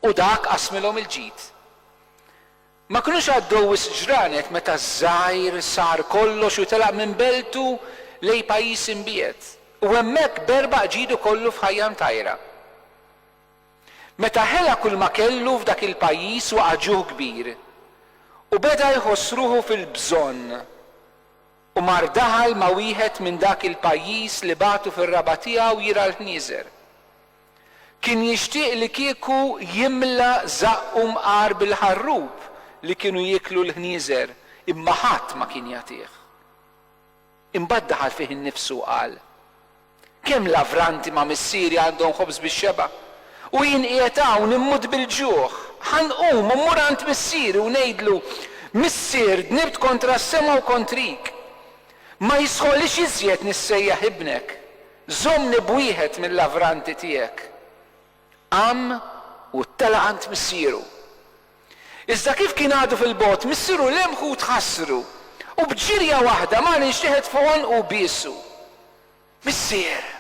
U dak qasmilhom il-ġid. Ma kinux għaddew wisq ġranet meta ż-żgħir sar kollox u telaq minn beltu lejn pajjiż imbiegħed, u hemmhekk berba qġiedu kollu f'ħajja mtajra. Meta ħela kulma kellu f'dak il-pajjiż waqa' ġuħ kbir, u beda jħoss ruħu fil-bżonn, u mar daħal ma' wieħed minn dak il-pajjiż li bagħtu fir-raba' tiegħu jirgħa l-ħnieżer. Kien jixtieq li kieku jimla żaqqu mqar bil-ħarrub li kienu jieklu l-ħnieżer, imma ħadd ma kien jagħtih. Imbagħad daħal fih innifsu u qal, Kemm lavranti ma' missieri għandhom ħobż bix-xebgħa, u jien qiegħed hawn immut bil-ġuħ! Ħa nqum u mmur għand missieri u ngħidlu, 'Missier, dnibt kontra s-sema u kontrik. Ma jistħoqlix iżjed nissejjaħ ibnek. Żommni b'wieħed mil-lavranti tiegħek. Qam u tela' għand missieru. Iżda kif kien għadu fil-bogħod, missieru lemħu u tħassru, u b'ġirja waħda mar inxteħet fuq għonqu u biesu. Missier!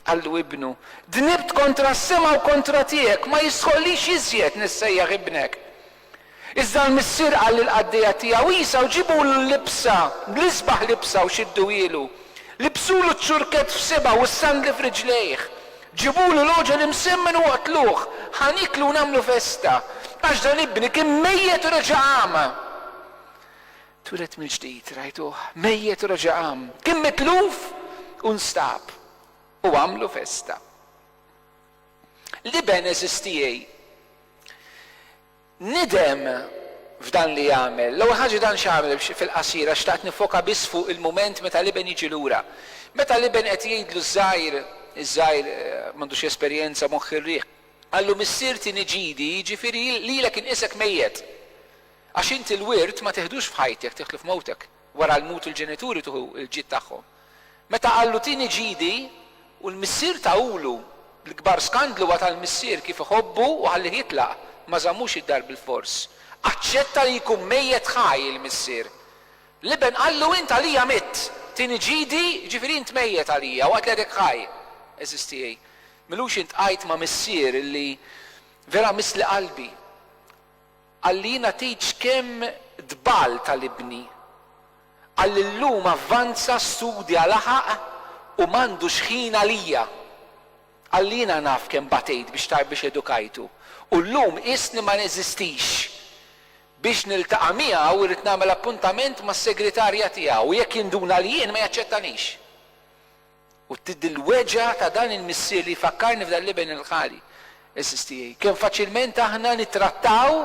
qallu ibnu, dnibt kontra s-sema u kontra tiegħek, ma jistħoqlix iżjed nissejjaħ ibnek. Iżda l-missier qal lill-qaddejja tiegħu, Isa, u ġibulu l-libsa, bl-isbaħ libsa, u xidduhielu. Libsulu ċ-ċurkett f'sibgħu u s-sandli f'riġlejh. Ġibulu l-għoġol imsemmen u oqtluh. Ħa nieklu u nagħmlu festa, għax dan ibni kien mejjet u reġa' qam. Twieled mill-ġdid, rajtuh mejjet u reġa' qam. Kien mitluf u nstab, u għamlu festa. L-Iben għeżież tiegħi, nidem f'dan li għamel. L-ewwel ħaġa dan x'għamel fil-qasira, xtaqt niffoka biss fuq il-mument meta l-Iben jiġi lura. Meta l-Iben qed jgħidlu ż-żgħir, iż-żgħir m'għandux esperjenza, moħħ ir-riħ, qallu Missier tieni ġidi, jiġifieri lilek inqisek mejjet. Għax inti l-wirt ma tiħdux f'ħajtek, tieħdlu f'mewtek. Wara l-mut il-ġenituri tuħu l-ġid tagħhom. Meta qallu tieni ġidi u l-missier tahulu, l-kbar skandlu għad għall-missier kif iħobbu u ħallih jitlaq, ma żammux id-dar bilfors. Aċċetta li jkun mejjet ħaj il-missier. L-iben qallu int għalija mitt, tieni ġidi, jiġifieri int mejjet għalija waqt li għadek ħaj. Għeżież tiegħi, m'ilux iltqajt ma' missier li vera miss li qalbi. Qalli nagħtikx kemm tbal tal-ibni. Qalli llum avvanza studja laħaq u m'għandux ħin għalija. Qalli jiena naf kemm batejt biex ta biex edukajtu u llum qisni ma neżistix. Biex niltaqa' miegħu rrid nagħmel appuntament mas-segritarja tiegħu u jekk jinduna li jien ma jaċċettanix. U d-dilweġa ta' dan il-missier li jfakkarni f'dan l-iben il-ghali, għeżież tiegħi, kemm faċilment aħna nittrattaw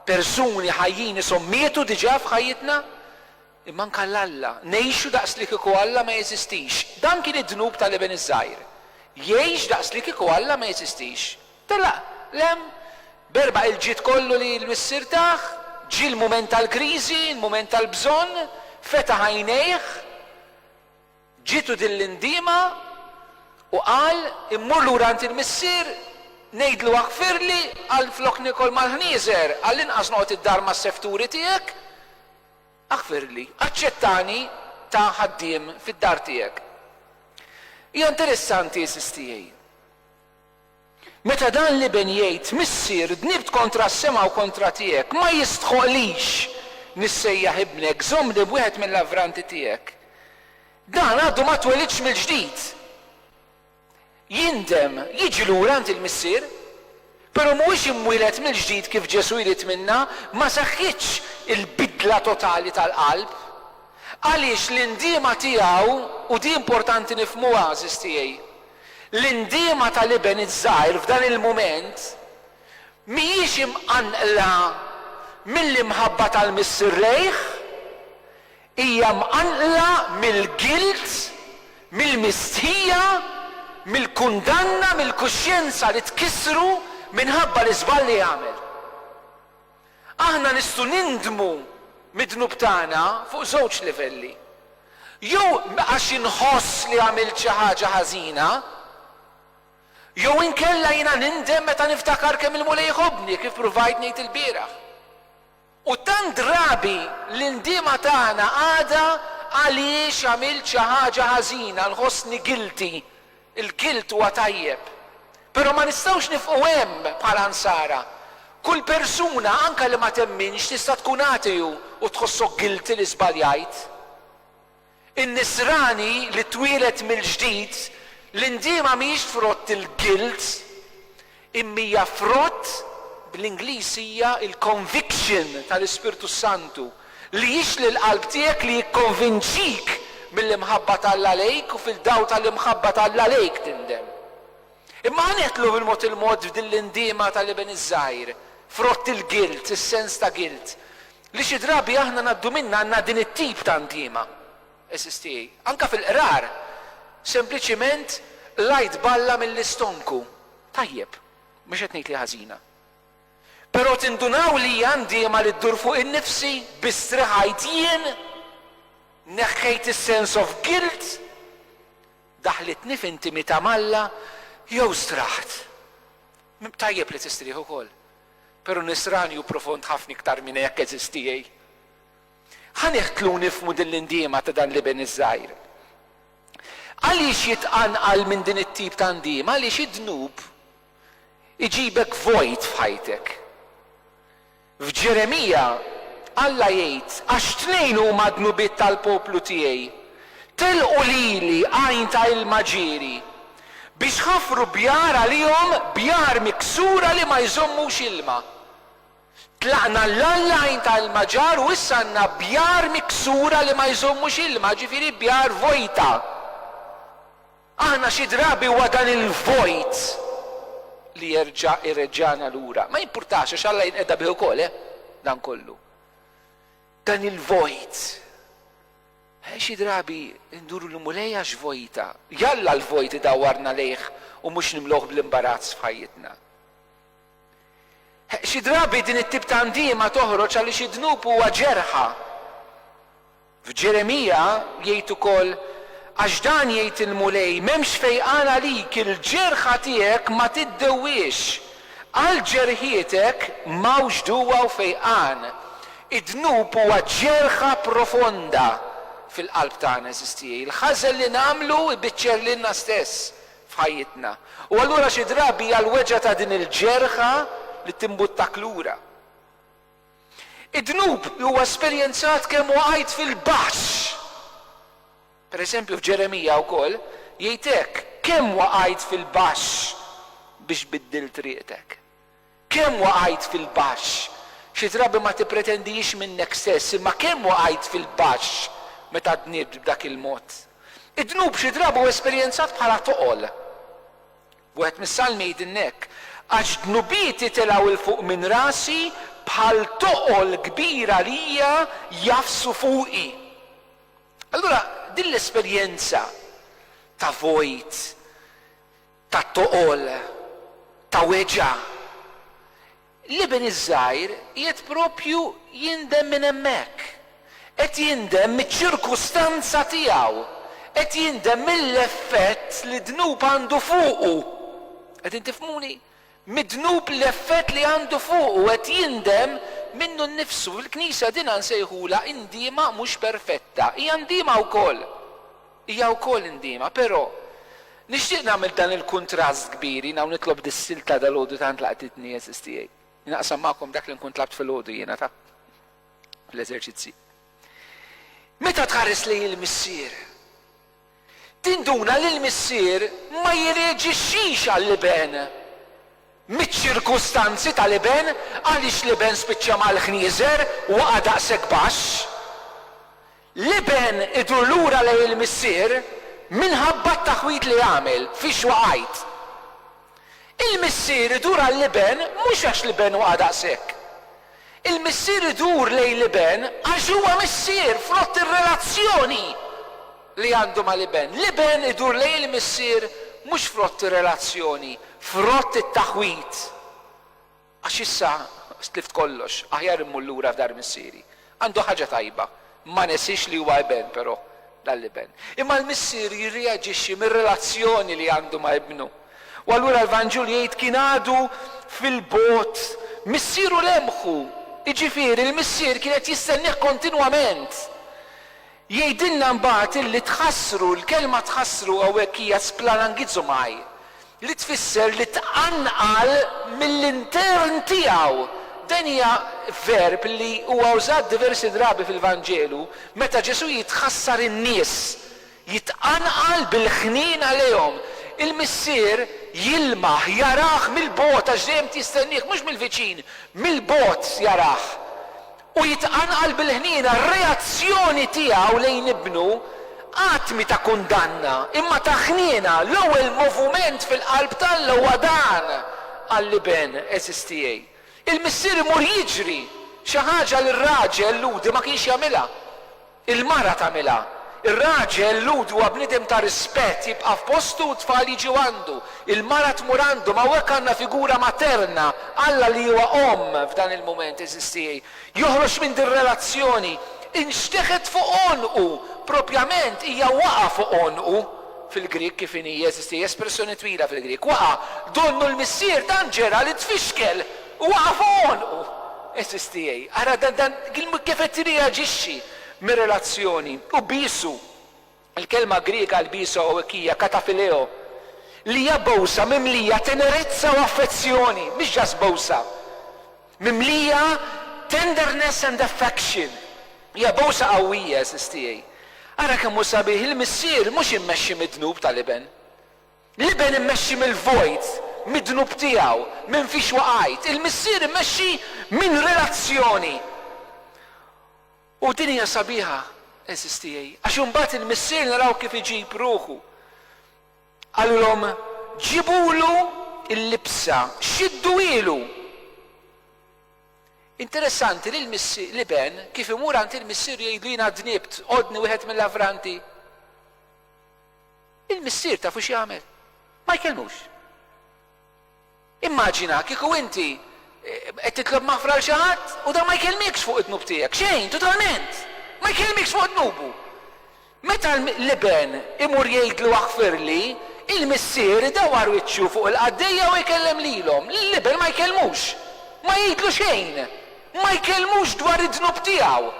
persuni ħajjin ishom mietu diġà f'ħajjitna, imma anke l Alla, ngħixu daqslikieku Alla ma jeżistix. Dan kien id-dnub ta' l-iben iż-żgħir. Jgħix daqslikieku Alla ma jeżistix. Telaq, lemm, b'erba' il-ġid kollu li l-missier tah, ġie l-mument tal-kriżi, l-mument tal-bżonn, fetaħ għajnejh, Ġietu din l-indiema u qal, Immur lura għand il-missier, ngħidlu aħfirli għal flok niekol mal-ħnieżer, għallinqas noqgħod id-dar mas-sefturi tiegħek. Aħfirli, aċċettani ta' ħaddiem fid-dar tiegħek. Hija interessanti, għeżież tiegħi. Meta dan l-iben jgħid, Missier, dnibt kontra s-sema u kontra tiegħek, ma jistħoqqlix nissejjaħ ibnek, żommni b'wieħed mill-avranti tiegħek. Dan għadu ma twelidx mill-ġdid. Jindem, jiġi lura għand il-missier, però mhuwiex imwieled mill-ġdid kif Ġesù jrid minna, ma seħħitx il-bidla totali tal-qalb. Għaliex l-indiema tiegħu, u di importanti nifhmuha, għażiż tiegħi, L-indiema tal-iben iż-żgħir f'dan il-mument mhijiex imqanqla mill-imħabba tal-Missier lejh, hija mqanqla mill-gilt, mill-mistħija, mill-kundanna, mill-kuxjenza li tkissru minħabba l-iżball li għamel. Aħna nistgħu nindmu mid-dnub tagħna fuq żewġ livelli. Jew għax inħoss li għamilt xi ħaġa ħażina, jew inkella jiena nindem meta niftakar kemm il-Mulej iħobbni, kif pruvajt ngħid ilbieraħ. U tant drabi l-indiema tagħna għadha għaliex għamilt xi ħaġa ħażina, nħossni guilty Il-gild huwa tajjeb, però ma nistgħux nifqu hemm bħala Nsara. Kull persuna, anke li ma temminx, tista' tkun ateu u tħossok guilty li żbaljajt. In-Nisrani li twieled mill-ġdid, l-indiema mhijiex frott il-guilt. Imma hija frott, bl-Ingliż hija l-conviction tal-Ispirtu s-Santu, li jixli l-qalb tiegħek li jikkonvinċik mill-imħabba t'Alla għalejk u fil-dawl tal-imħabba t'Alla għalejk tindem. Imma ħa nidħlu bil-mod il-mod f'din l-indiema tal-iben iż-żgħir, frott il-guilt, is-sens ta' guilt, li xi drabi aħna ngħaddu minnha għandna din it-tip ta' ndiema. SST, Anke fil-qrar, sempliċiment l-għajt balla mill-istonku. Tajjeb, mhux qed ngħid li hi ħażina. Però tindunaw li hija ndiema li ddur fuq innifsi? Biss striħajt jien? Neħħejt is-sense of guilt? Daħlitni f'intimità m'Alla jew straħt? Tajjeb li tistrieħ ukoll. Però nisranju profond ħafna iktar minn hekk, SST. Ħa niħtlu nifhmu din l-indiema ta' dan l-iben iż-żgħir. Għaliex jitqanqal minn din it-tip ta' ndiema? Għaliex id-dnub iġibek vojt f'ħajtek. F'Ġeremija, Alla jgħid, Għax tnejn huma d-dnubiet tal-poplu tiegħi, telqu lili għajn ta' ilma ġieri, biex ħafru bjar għalihom, bjar miksura li ma jżommux ilma. Tlaqna l-għajn tal-Maġar u issa għandna bjar miksura li ma jżommux ilma, ġifieri bjar vojta. Aħna xi drabi huwa dan il-vojt li jerġa' jreġġagħna lura. Ma jimpurtax għax Alla jinqeda bih ukoll, eh, dan kollu. Dan il-vojt. Eh, xi drabi nduru lil Mulej għax vojta. Jalla l-vojt idawwarna lejh u mhux nimluh bl-imbarazz f'ħajjitna. Xi drabi din it-tip ta' ndiema toħroġ għaliex id-dnub huwa ġerħa. F'Ġeremija jgħid ukoll, Għax dan jgħid il-Mulej, M'hemmx fejqan għalik, il-ġerħa tiegħek ma tiddewwiex. Għal ġerħietek m'hawnx duwa u fejqan. Id-dnub huwa ġerħa profonda fil-qalb tagħna, għeżież tiegħi. Il-ħażen li nagħmlu jbiċċer lilna stess f'ħajjitna. U allura xi drabi hija l-weġgħa ta' din il-ġerħa li timbuttak lura. Id-dnub huwa esperjenzat kemm waqajt fil-baxx. Per eżempju f'Ġeremija wkoll jgħid hekk, Kemm waqajt fil-baxx biex biddilt riqtek? Kemm waqajt fil-baxx! Xi drabi ma tippretendihiex minnek stess, imma kemm waqajt fil-baxx meta dnibt b'dak il-mod! Id-dnub xi drabi hu esperjenzat bħala toqol. Wieħed mis-Salmi jgħidilna hekk, Għax dnubieti telgħu 'l fuq minn rasi, bħal toqol kbir għalija jgħaffsu fuqi. Allura din l-esperjenza ta' vojt, ta' toqol, ta' weġgħa. L-iben iż-żgħir qiegħed proprju jindem minn hemmhekk. Qed jindem miċ-ċirkustanza tiegħu. Qed jindem mill-effett li d-dnub għandu fuqu. Qegħdin tifhmuni? Mid-dnub l-effett li għandu fuqu. Qed jindem minnu nnifsu. Fil-Knisja dinha nsejħulha indiema mhux perfetta. Hija ndiema wkoll. Hija wkoll indiema. Però, nixtieq nagħmel dan il-kuntrast kbir, jiena u nitlob dis-silta dalgħodu tant laqtitni, għeżież tiegħi. Naqsam magħkom dak li nkun tlabt filgħodu jiena, taf, fl-eżerċizzji. Meta tħares lejn il-Missier, tinduna li l-Missier ma jirreaġixxix għall-iben miċ-ċirkustanzi tal-iben, għaliex l-iben spiċċa mal-ħnieżer, waqa' daqshekk baxx. L-iben idur lura lejn il-missier minħabba t-taħwid li għamel, fiex waqajt. Il-missier idur għall-iben mhux għax l-iben waqa' daqshekk. Il-missier idur lejn l-iben għax huwa missier frott ir-relazzjoni li għandu mal-iben. L-iben idur lejn il-missier mhux frott ir-relazzjoni, frott it-taħwid. Għax issa tlift kollox, aħjar immur lura f'dar missieri. Għandu ħaġa tajba, ma nesiex li huwa iben, però, dal-iben. Imma l-missier jirreaġixxi mir-relazzjoni li għandu ma' ibnu. U allura l-Vanġlu jgħid kien għadu fil-bogħod, missieru lemħu, jiġifieri l-missier kien qed jistennieh kontinwament. Jgħidilna mbagħad illi tħassru, l-kelma tħassru hawnhekk hija splanangizomai, li tfisser li tqanqal mill-intern tiegħu. Dan hija verb li huwa użat diversi drabi fil-Vanġelu meta Ġesù jitħassar in-nies, jitqanqal bil-ħniena għalihom. Il-Missier jilmaħ, jarah mill-bogħod għax dejjem jistennieh, mhux mill-viċin, mill-bogħod jarah. u jitqanqal bil-ħniena r-reazzjoni tiegħu lejn ibnu, att mhi ta' kundanna, imma ta' ħniena, l-ewwel movument fil-qalb t'Alla huwa dan għall-iben għeżież tiegħi. Il-missier imur jiġri, xi ħaġa li r-raġel Lhudi ma kienx jagħmilha. Il-mara tagħmilha. Ir-raġel, Lhud, huwa bniedem ta' rispett, jibqa' f'postu u t-tfal jiġu għandu. Il-mara tmur għandhom. Hawnhekk għandna figura materna, Alla li huwa omm f'dan il-mument, għeżież tiegħi. Joħroġ minn dir-relazzjoni. Inxteħet fuq għonqu. Propjament, hija waqa' fuq għonqu. Fil-Grieg kif inhi, għeżież tiegħi? Espressjoni twila fil-Grieg. Waqa'. Donnu l-missier tant ġera li tfixkel. U waqaf għonqu! Għeżież tiegħi, ara dan, dan, kif qed tirreaġixxi mir-relazzjoni. U bisu, il-kelma Griega għal bisu hawnhekk hija katafileo, li hija bowsa mimlija tenerezza u affezzjoni, mhix just bowsa. Mimlija tenderness and affection. Hija bowsa qawwija, għeżież tiegħi. Ara kemm hu sabiħ, il-missier mhux immexxi mid-dnub tal-iben. L-Iben immexxi mill-vojt midnub tiegħu, minn fiex waqajt. Il-Missier immexxi minn relazzjoni. U din hija sabiħa, għeżież tiegħi, għax imbagħad il-Missier naraw kif iġib ruħu. Qalulhom, Ġibulu l-libsa, xidduhielu. Interessanti li l-Iben kif imur għand il-Missier u jgħidlu jiena dnibt, għoddni wieħed mill-avranti. Il-missier tafu x'jagħmel? Ma jkellmux. Immaġina kieku inti qed titlob maħfra għal xi ħadd u dan ma jkellmikx fuq id-dnub tiegħek. Xejn, totalment! Ma jkellmikx fuq dnubu. Meta l-iben imur jgħidlu aħfirli, il-missier idawwar wiċċu fuq il-qaddejja u jkellem lilhom. Lill-iben ma jkellmux. Ma jgħidlu xejn. Ma jkellmux dwar id-dnub tiegħu.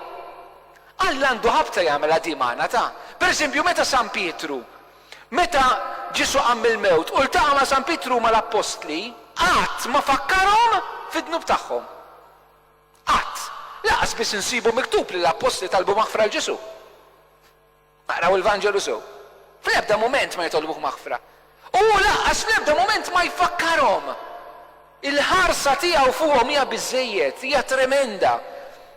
Alla għandu ħabta jagħmilha di magħna ta'. Per eżempju, meta San Pietru, meta Ġesù qam mill-mewt u ltaqa' ma' San Pietru u mal-appostli, qatt ma fakkarhom fid-dnub tagħhom. Qatt. Lanqas biss insibu miktub li l-appostli talbu maħfra 'l Ġesù. Aqraw il-Vanġelu sew. Fl-ebda mument ma jitolbuh maħfra. U hu lanqas fl-ebda mument ma jfakkarhom. Il-ħarsa tiegħu fuqhom hija biżżejjed, hija tremenda,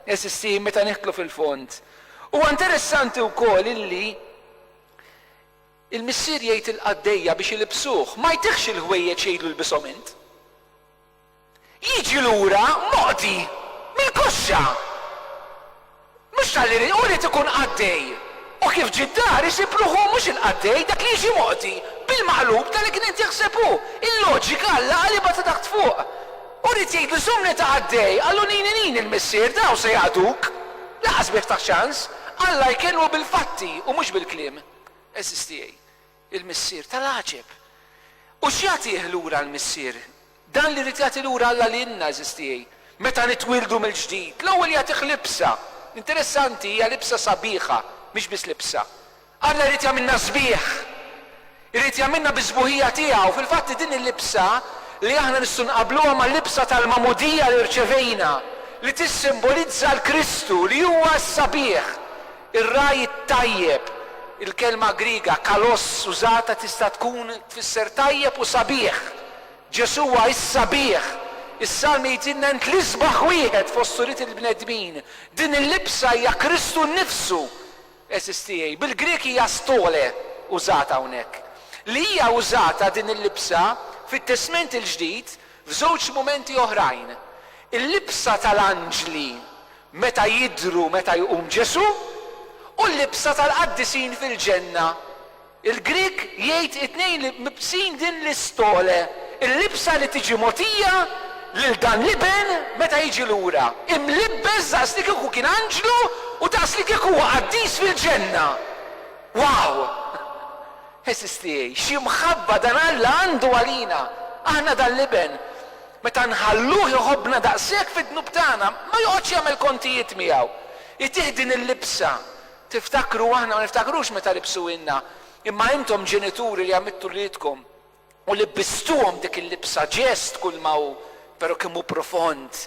għeżiżti, meta nidħlu fil-fond. Huwa interessanti wkoll illi l-missier jgħid lill-qaddejja biex ilibbsuh. Ma jtihx il-ħwejjeġ jgħidlu lbishom int. Jiġi lura moqdi mill-koxxa. Mhux talli jrid, hu jrid ikun qaddej. U kif ġie d-dar isib ruħu hu mhux il-qaddej, dak li jiġi moqdi, bil-maqlub ta' li kien qed jaħseb hu. Il-loġika Alla qalibha ta' taħt fuq. Hu jrid jgħidlu żommni ta' qaddej, qallu nini nini l-Missier, dawn se jaqduk. Lanqas bih ftaħ ċans. Alla jkellmu bil-fatti u mhux bil-kliem. Għeżież tiegħi. il-missier tal-għaġeb. U x'jagħtih lura l-missier? Dan li jrid jagħti lura Alla lilna, għażiż tiegħi, meta nitwieldu mill-ġdid. L-ewwel jagħtih libsa. Interessanti, hija libsa sabiħa, mhix biss libsa. Alla jrid jagħmilna sbieħ. Irid jagħmilna bis-sbuħija tiegħu. Fil-fatt hi din il-libsa li aħna nistgħu nqabbluha mal-libsa tal-magħmudija li rċevejna, li tissimbolizza l-Kristu, li huwa s-sabiħ, Ir-ragħaj it-tajjeb, Il-kelma Griega kalos użata tista' tkun tfisser tajjeb u sabiħ. Ġesù huwa s-sabiħ. Is-Salmi jgħidilna int l-isbaħ wieħed fost ulied il-bnedmin. Din il-libsa hija Kristu nnifsu, għeżież tiegħi. Bil-Grieg hija stole użata hawnhekk. Li hija użata din il-libsa fit-Testment il-Ġdid f'żewġ mumenti oħrajn. Il-libsa tal-anġli Meta jidhru meta jqum Ġesù u l-libsa tal-qaddisin fil-ġenna. Il-Grieg jgħid it-tnejn li mibqsin din l-istole, il-libsa li tiġi mogħtija lil dan l-Iben meta jiġi lura, imlibbes daqs li kieku kien anġlu u daqs li kieku huwa qaddis fil-ġenna. Wow! Għeżież tiegħi, xi mħabba dan Alla għandu għalina, aħna dan l-Iben, meta nħalluh iħobbna daqshekk fid-dnub tagħna, ma joqgħodx jagħmel kontijiet miegħu. Itih din il-libsa. Tiftakru, aħna ma niftakrux meta libsuhielna, imma intom ġenituri li għammidtu wliedkom u libbistuhom dik il-libsa, ġest kulma hu, però kemm hu profond.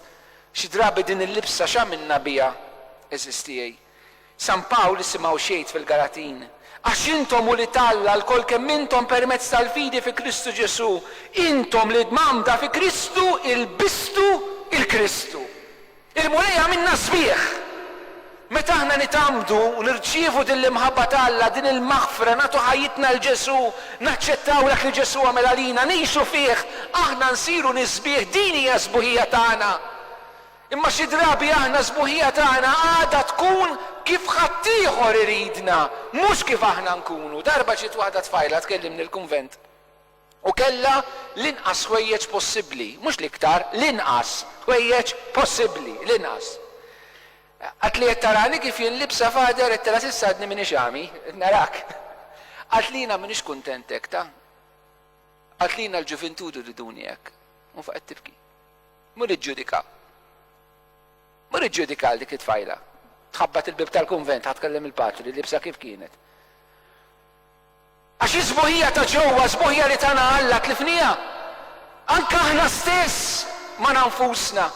Xi drabi din il-libsa x'għamilna biha, għeżież tiegħi? San Pawl isimgħu x'jgħid fil-Galatin, Għax intom ulied t'Alla lkoll kemm intom permezz tal-fidi fi Kristu Ġesù, intom li dmamda fi Kristu ilbistu l-Kristu. Il-Mulej għamilna sbieħ! Meta aħna nitgħammdu u nirċievu din l-imħabba t'Alla, din il-maħfra, nagħtu ħajjitna 'l Ġesù, naċċettaw dak li Ġesù għamel għalina, ngħixu fih, aħna nsiru nies sbieħ, din hija s-sbuħija tagħna. Imma xi drabi aħna s-sbuħija tagħna għadha tkun kif ħaddieħor iridna, mhux kif aħna nkunu. Darba ġiet waħda tfajla tkellimni l-kunvent u kellha l-inqas ħwejjeġ possibbli, mhux l-iktar, l-inqas, ħwejjeġ possibbli, l-inqas. Qaltli qed tarani kif jien libsa Father, għedtilha s'issa għadni m'iniex għami, qed narak. Qaltli jiena m'iniex kuntent hekk ta. Qaltli jiena l-ġuvintud iriduni hekk. U faqgħet tibki. Mur iġġudika. Mur iġġudika għal dik it-tfajla. Tħabbat il-bieb tal-kunvent ħa tkellem il-patri, libsa kif kienet. Għax is-sbuħija ta' ġewwa, sbuħija li tana Alla, tlifniha. Anke aħna stess, magħna nfusna.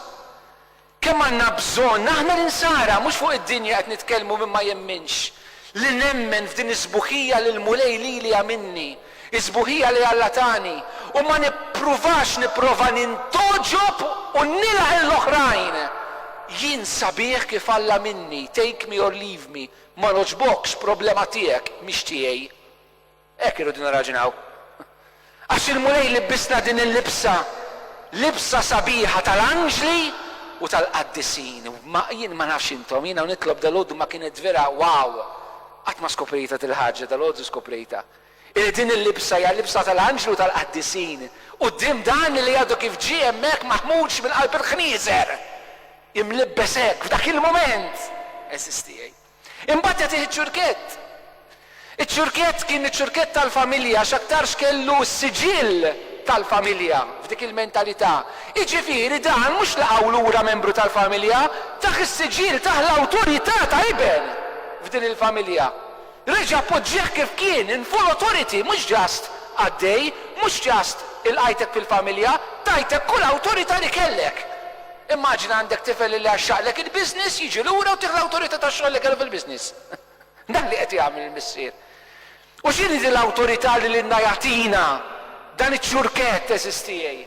Kemm għandna bżonn, aħna l-insara, mhux fuq id-dinja qed nitkellmu min ma jemminx, li nemmen f'din is-sbuħija li l-Mulej lili għamilni, Is-sbuħija li Alla tani, u ma nippruvax nipprova nintgħoġob u nilgħaq lill-oħrajn. Jien sabiħ kif Alla minni, take me or leave me, ma nogħġbokx, problema tiegħek, mhix tiegħi. Hekk irridu nirraġunaw. Għax il-Mulej libbisna din il-libsa, libsa sabiħa tal-anġli u tal-qaddisin. Ma jien ma nafx intom, jiena u nitlob dalgħodu ma kienet vera wow! Qatt ma skoprejtha dil-ħaġa, dalgħodu skoprejtha. Illi din il-libsa hija l-libsa tal-anġlu tal-qaddisin, quddiem dan li għadu kif ġie hemmhekk maħmuġ minn qalb il-ħnieżer, imlibbes hekk, f'dak il-mument, għeżież tiegħi. Imbagħad jagħtih iċ-ċurkett. Iċ-ċurkett kien iċ-ċurkett tal-familja għax aktarx kellu s-siġill tal-familja f'dik il-mentalità. Jiġifieri dan mhux laqgħu lura membru tal-familja, tah is-siġill, tah l-awtorità ta' iben f'din il-familja. Reġa' poġġih kif kien in full authority mhux just għaddej, mhux just ilqajtek fil-familja, tajtek kull awtorità li kellek. Immaġina għandek tifel illi għaxxaqlek il-business jiġi lura u tih l-awtorità tax-xogħol li kellu fil-business. Dan li qed jagħmel il-Missier. U x'inhi din l-awtorità li lilna jagħtina dan iċ-ċurkett għeżież tiegħi?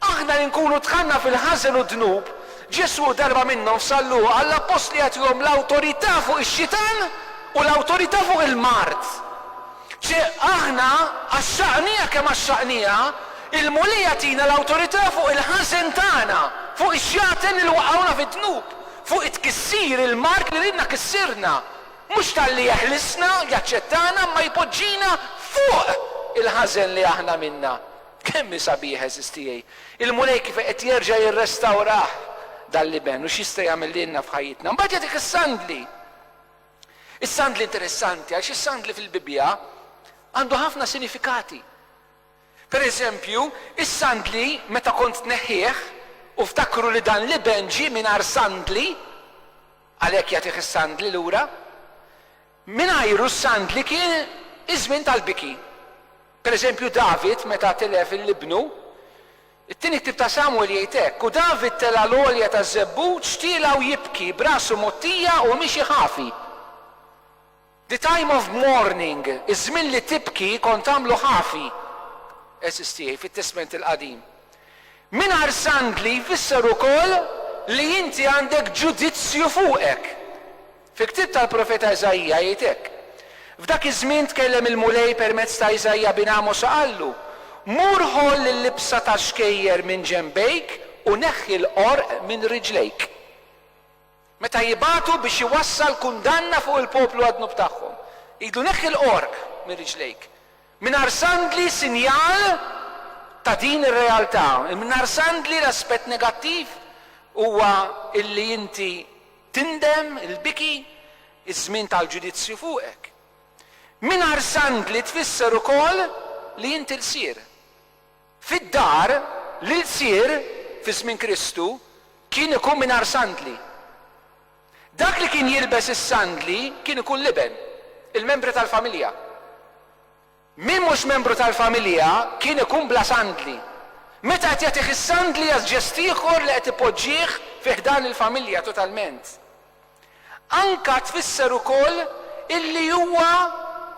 Aħna li nkunu dħalna fil-ħażen u d-dnub, Ġesù darba minnhom f'sal-luq għall-appostli jagħtihom l-awtorità fuq ix-xitan u l-awtorità fuq il-mard. Ċe aħna, għaxxaqnija kemm għaxxaqnija, il-Mulej jagħtina l-awtorità fuq il-ħażen tagħna, fuq ix-xjaten li waqgħuna fid-dnub, fuq it-tkissir, il-mard li ridna kissirna. Mhux talli jeħlisna, jaċċettana, imma jpoġġina fuq il-ħażen li aħna għamilna. Kemm hi sabiħa għeżież tiegħi! Il-Mulej kif qed jerġa' jirrestawrah dan l-iben u x'jista' jagħmel lilna f'ħajjitna. Mbagħad jagħtik is-sandli. Is-sandli interessanti għaliex is-sandli fil-Bibbja għandu ħafna sinifikati. Per eżempju, is-sandli meta kont tneħħih u ftakru li dan l-iben ġie mingħajr sandli għalhekk jagħtih is-sandli lura. Mingħajru s-sandli kien iż-żmien tal-biki. Per eżempju, David meta tilef lil ibnu, it-Tieni Ktieb ta' Samwel jgħid hekk, U David tela' l-għolja taż-żebbut, xtielha u jibki, b'rasu mgħottija u miexi ħafi. The time of mourning, iż-żmien li tibki kont tagħmlu ħafi, għeżież tiegħi, fit-Testment il-Qadim. Mingħajr sandli jfisser ukoll li inti għandek ġudizzju fuqek. Fil-ktieb tal-profeta Iżaija jgħid hekk, F'dak iż-żmien tkellem il-Mulej permezz ta' Iżaija bin Għamos u qallu, Mur ħoll il-libsa tax-xkejjer minn ġenbejk u neħħi l-qorq minn riġlejk. Meta jibagħtu biex iwassal kundanna fuq il-poplu għad-dnub tagħhom, jgħidlu, Neħħi l-qorq minn riġlejk. Mingħajr sandli sinjal ta' din ir-realtà. Mingħajr sandli l-aspett negattiv huwa illi inti Tindem, il-biki, iż-żmien tal-ġudizzju fuqek. Mingħajr sandli tfisser ukoll li int ilsir. Fid-dar, l-ilsir, fi żmien Kristu, kien ikun mingħajr sandli. Dak li kien jilbes is-sandli kien ikun l-iben, il-membri tal-familja. Min mhux membru tal-familja kien ikun bla sandli. Meta qed jagħtih is-sandli jagħti ġest ieħor li qed ipoġġih fi ħdan il-familja totalment. Anka tfisser ukoll illi huwa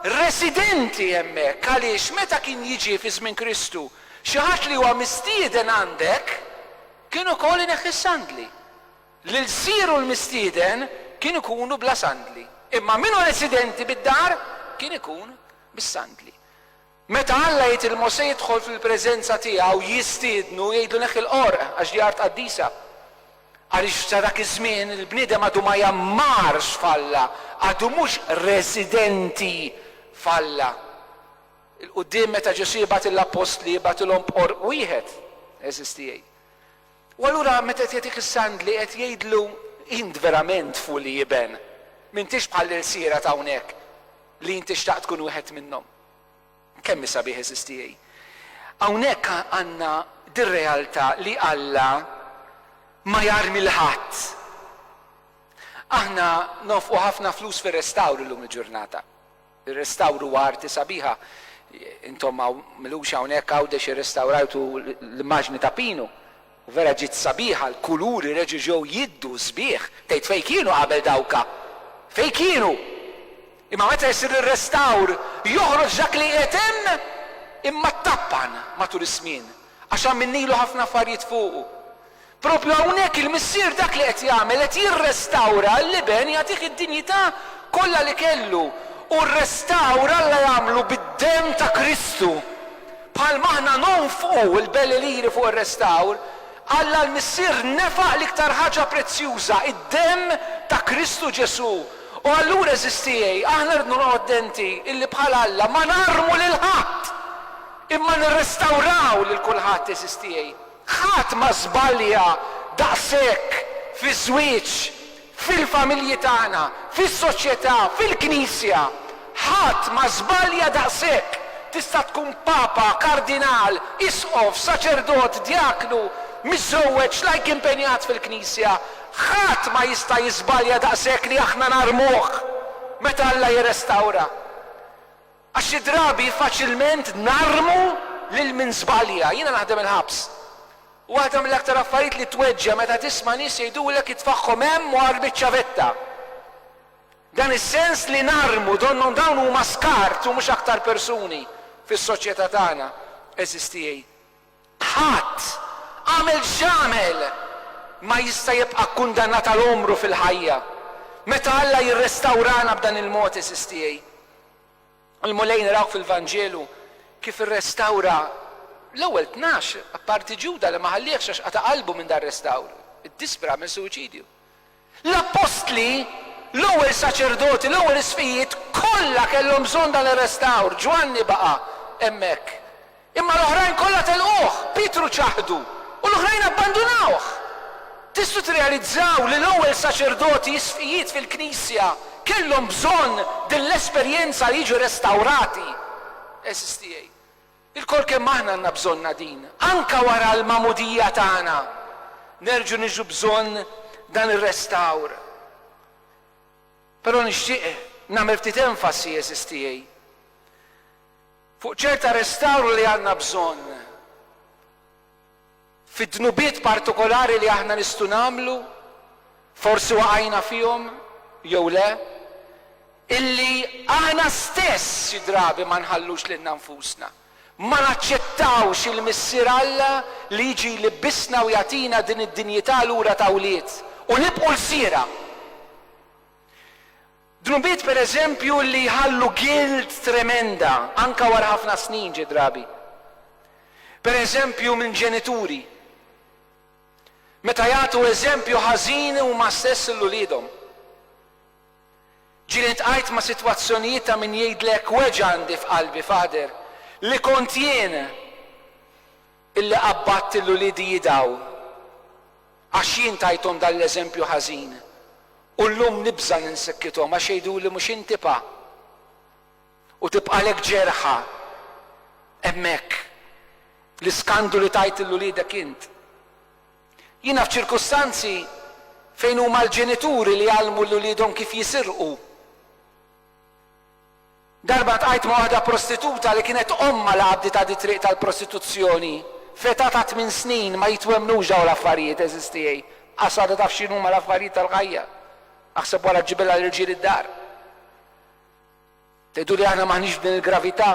residenti hemmhekk għaliex meta kien jiġi fi żmien Kristu xi ħadd li huwa mistieden għandek kien ukoll ineħħi s-sandli. L-ilsir u l-mistieden kien ikunu bla sandli, imma min hu residenti bid-dar kien ikun bis-sandli. Meta Alla jgħid lil Mosè jidħol fil-preżenza tiegħu, jistiednu, jgħidlu neħħi l-qorq, għax di art qaddisa. Għaliex sa dak iż-żmien il-bniedem għadu ma jgħammarx f'Alla, għadu mhux residenti f'Alla. 'il quddiem meta Ġesù jibgħat lill-appostli jibgħatilhom b'qorq wieħed, eżisti jgħid. U allura meta qed jagħtik is-sandli qed jgħidlu, Int verament fuli iben, m'intix bħall-ilsiera t'hawnhekk li int tixtaq tkun wieħed minnhom. Kemm hi sabiħ għeżież tiegħi. Hawnhekk għandna dir-realtà li Alla ma jarmi 'l ħadd. Aħna nonfqu ħafna flus fir-restawr illum il-ġurnata. Ir-restawr huwa arti sabiħa. Intom hawn milux hawnhekk Għawdex irrestawrajtu l-immaġni ta' Pinu u vera ġiet sabiħa, l-kuluri reġġew jiddu sbieħ. Tgħid fejn kienu qabel dawk? Fejn kienu? Imma meta jsir ir-restawr joħroġ dak li qiegħed hemm immattappan matul iż-żmien għax għamilnilu ħafna affarijiet fuqu. Proprju hawnhekk il-Missier dak li qed jagħmel, qed jirrestawra l-Iben jagħtih id-dinjità kollha li kellu. U r-restawr Alla jagħmlu bid-demm ta' Kristu. Bħalma aħna nonfqu l-belli liri fuq ir-restawr, Alla l-Missier nefaq l-iktar ħaġa prezzjuża, id-demm ta' Kristu Ġesù. U allura, għeżież tiegħi, aħna rridu noqogħdu attenti illi bħal Alla ma narmu lil ħadd, imma nirrestawraw lil kulħadd, għeżież tiegħi. Ħadd ma żbalja daqshekk fiż-żwieġ, fil-familji tagħna, fis-soċjetà, fil-Knisja. Ħadd ma żbalja daqshekk. Tista' tkun Papa, Kardinal, Isqof, Saċerdot, Djaknu, miżżewweġ, lajk impenjat fil-Knisja. Ħadd ma jista' jiżbalja daqshekk li aħna narmuh meta Alla jirrestawra. Għax xi drabi faċilment narmu lil min żbalja. Jiena naħdem il-ħabs. U waħda mill-aktar affarijiet li tweġġa' meta tisma' nies jgħidulek itfagħhom hemm u agħar biċ-ċavetta. Dan is-sens li narmu donnhom dawn huma skart u mhux aktar persuni fis-soċjetà tagħna. Għeżież tiegħi, Ħadd, għamel x'għamel, ma jista' jibqa' kkundannat għal għomru fil-ħajja. Meta Alla jirrestawrana b'dan il-mod, għeżież tiegħi, il-Mulej naraw fil-Vanġelu kif irrestawra l-ewwel tnax, apparti Ġuda li ma ħalliehx għax qata' qalbu minn dar-restawr, iddispera, għamel suwiċidju. L-appostli, l-ewwel saċerdoti, l-ewwel isqfijiet, kollha kellhom bżonn dan ir-restawr. Ġwanni baqa' hemmhekk. Imma l-oħrajn kollha telquh. Pietru ċaħdu, u l-oħrajn abbandunawh. Tistgħu tirrealizzaw li l-ewwel saċerdoti, isqfijiet fil-Knisja, kellhom bżonn din l-esperjenza li jiġu restawrati? Għeżież tiegħi! Ilkoll kemm aħna għandna bżonnha din. Anke wara l-magħmudija tagħna, nerġgħu niġu bżonn dan ir-restawr. Però nixtieq nagħmel ftit enfasi, għeżież tiegħi, fuq ċerta restawr li għandna bżonn. Fid-dnubiet partikolari li aħna nistgħu nagħmlu, forsi waqajna fihom jew le, illi aħna stess xi drabi ma nħallux lilna nfusna, ma naċċettawx il-Missier Alla li jiġi jlibbisna u jagħtina din id-dinjità lura ta' wlied u nibqgħu lsiera. Dnubiet pereżempju li jħallu guilt tremenda anke wara ħafna snin xi drabi. Pereżempju minn ġenituri. Meta jagħtu eżempju ħażin huma stess lil uliedhom. Ġieli ltqajt ma' sitwazzjonijiet ta' min jgħidlek weġgħandi f'qalbi, Father, li kont jien! Illi qabbadt lil uliedi jidgħu, għax jien tajthom dan l-eżempju ħażin, u llum nibża' li nsikkithom, għax jgħiduli mhux inti pa. U tibqagħlek ġerħa hemmhekk, l-iskandu li tgħid lil uliedek int. Jiena f'ċirkustanzi fejn huma l-ġenituri li jgħallmu lil uliedhom kif jisirqu. Darba ltqajt ma' waħda prostituta li kienet ommha li għabdiet għad it-triq tal-prostituzzjoni f'età ta' tmien snin, ma jitwemmnux dawn l-affarijiet għeżież tiegħi, qas waħda taf x'inhuma l-affarijiet tal-ħajja. Aħseb wara ġġibilha l-irġiel id-dar. Tgħiduli aħna m'aħniex f'din il-gravità?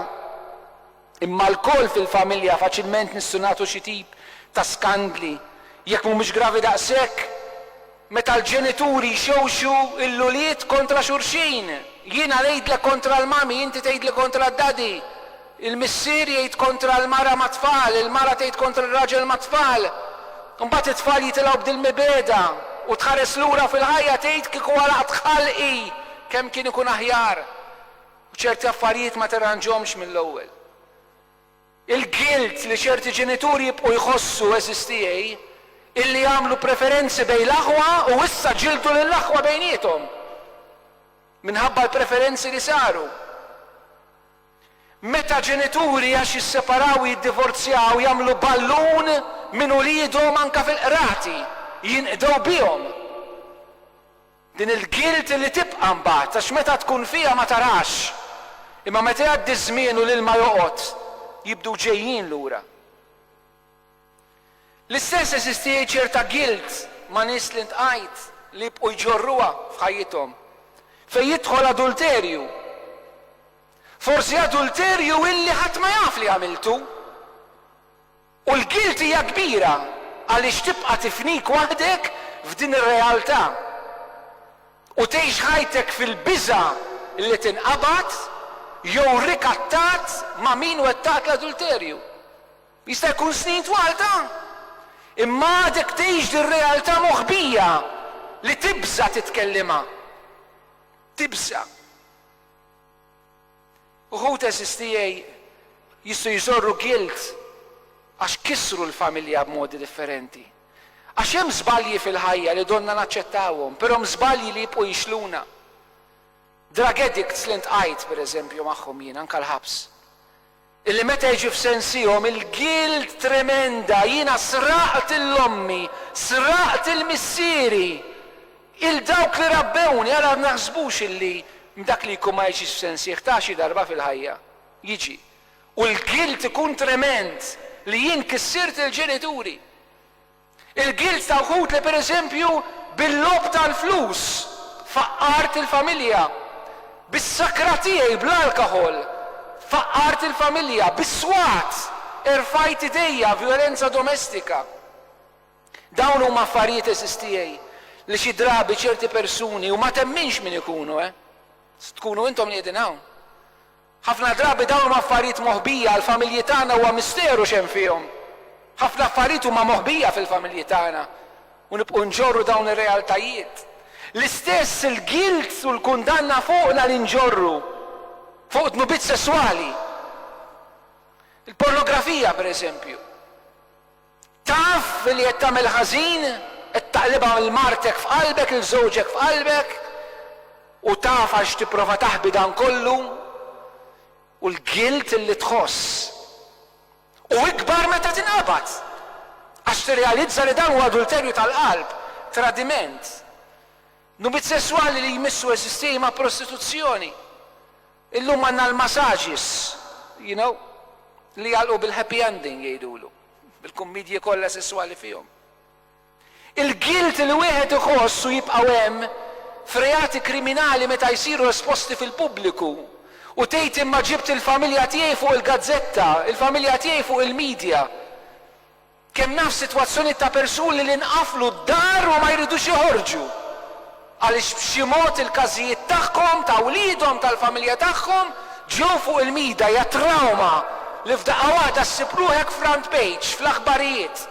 Imma lkoll fil-familja faċilment nistgħu nagħtu xi tip ta' skandli, jekk mhumiex gravi daqshekk, meta l-ġenituri jxewxu l-ulied kontra xulxin. Jiena ngħidlek kontra l-mommy, inti tgħidli kontra d-daddy. Il-missier jgħid kontra l-mara mat-tfal, il-mara tgħid kontra r-raġel mat-tfal. Imbagħad it-tfal jitilgħu b'dil-mibegħda u tħares lura fil-ħajja tgħid kieku għalaqt ħalqi kemm kien ikun aħjar. U ċerti affarijiet ma tirranġhomx mill-ewwel. Il-guilt li ċerti ġenituri jibqgħu jħossu eżistieA illi għamlu preferenzi bejn l-aħwa u issa ġildu lill-aħwa bejniethom minħabba l-preferenzi li saru. Meta ġenituri għax jisseparaw u jiddivorzjaw jagħmlu ballun minn uliedhom anke fil-qrati, jinqdew bihom. Din il-guilt li tibqa' mbagħad għax meta tkun fiha ma tarax, imma meta jgħaddi ż-żmien u l-ilma joqgħod, jibdu ġejjin lura. L-istess eżisti ċerta guilt ma' nies li ntqajt li jibqgħu jġorruha f'ħajjithom. Fejn jidħol adulterju. Forsi adulterju illi ħadd ma jaf li għamiltu. U l-guilt hija kbira għaliex tibqa' tifnik waħdek f'din ir-realtà u tgħix ħajtek fil-biża' li tinqabad jew rikattat ma' min wettaq l-adulterju. Jista' jkun snin twal ta'. Imma għadek tgħix din realtà moħbija li tibża' titkellimha. Tibża'. Uħud għeżież tiegħi jistgħu jżorru guilt għax kissru l-familja b'modi differenti. Għax hemm żbalji fil-ħajja li donnha naċċettawhom, però hemm żbalji li jibqgħu jixluna. Drug addicts li ntqajt, pereżempju, magħhom jien, anke l-ħabs. Illi meta jiġi f'sensihom il-gild tremenda, jiena sraqt 'l ommi, sraqt 'l missieri, 'l dawk li rabbewni, ara naħsbux illi dak li jkun ma jiġix f'sensih ta' xi darba fil-ħajja jiġi u l-gild ikun tremend li jien kissirt il-ġenituri. Il-gild ta' wħud li pereżempju bil-logħob tal-flus faqqart il-familja, bis-sakra tiegħi bl-alkoħol faqqart il-familja, bis-swat erfajt idejja, vjolenza domestika. Dawn huma affarijiet għeżież tiegħi li xi drabi ċerti persuni, u ma temminx min ikunu, eh, tkunu intom li qegħdin hawn, Ħafna drabi dawn huma affarijiet moħbija, għall-familji tagħna huwa misteru x'hemm fihom. Ħafna affarijiet huma moħbija fil-familji tagħna u nibqgħu nġorru dawn ir-realtajiet. L-istess il-guilt u l-kundanna fuqna li nġorru fuq dnubiet sesswali. Il-pornografija, pereżempju. Taf li qed tagħmel ħażin, qed taqlibha 'l martek f'qalbek, 'l żewġek f'qalbek, u taf għax tipprova taħbi dan kollu, u l-guilt li tħoss hu ikbar meta tinqabad, għax tirrealizza li dan hu adulterju tal-qalb, tradiment. Nubit sesswali li jmissu eżistieji ma' prostituzzjoni. Illum għandna l-massages, you know, li jagħlqu bil-happy ending jgħidulu, bil-kummidji kollha sesswali fihom. Il-guilt li wieħed iħoss u jibqgħu hemm f'reati kriminali meta jsiru esposti fil-pubbliku u tgħid imma ġibt il-familja tiegħi fuq il-gazzetta, il-familja tiegħi fuq il-media. Kemm naf sitwazzjonijiet ta' persuni li nqaflu d-dar u ma jridux joħorġu għaliex b'xi mod il-każijiet tagħhom, ta' wliedhom, tal-familja tagħhom ġew fuq il-mida, hija trawma li f'daqqa waħda ssib ruħek front page fl-aħbarijiet.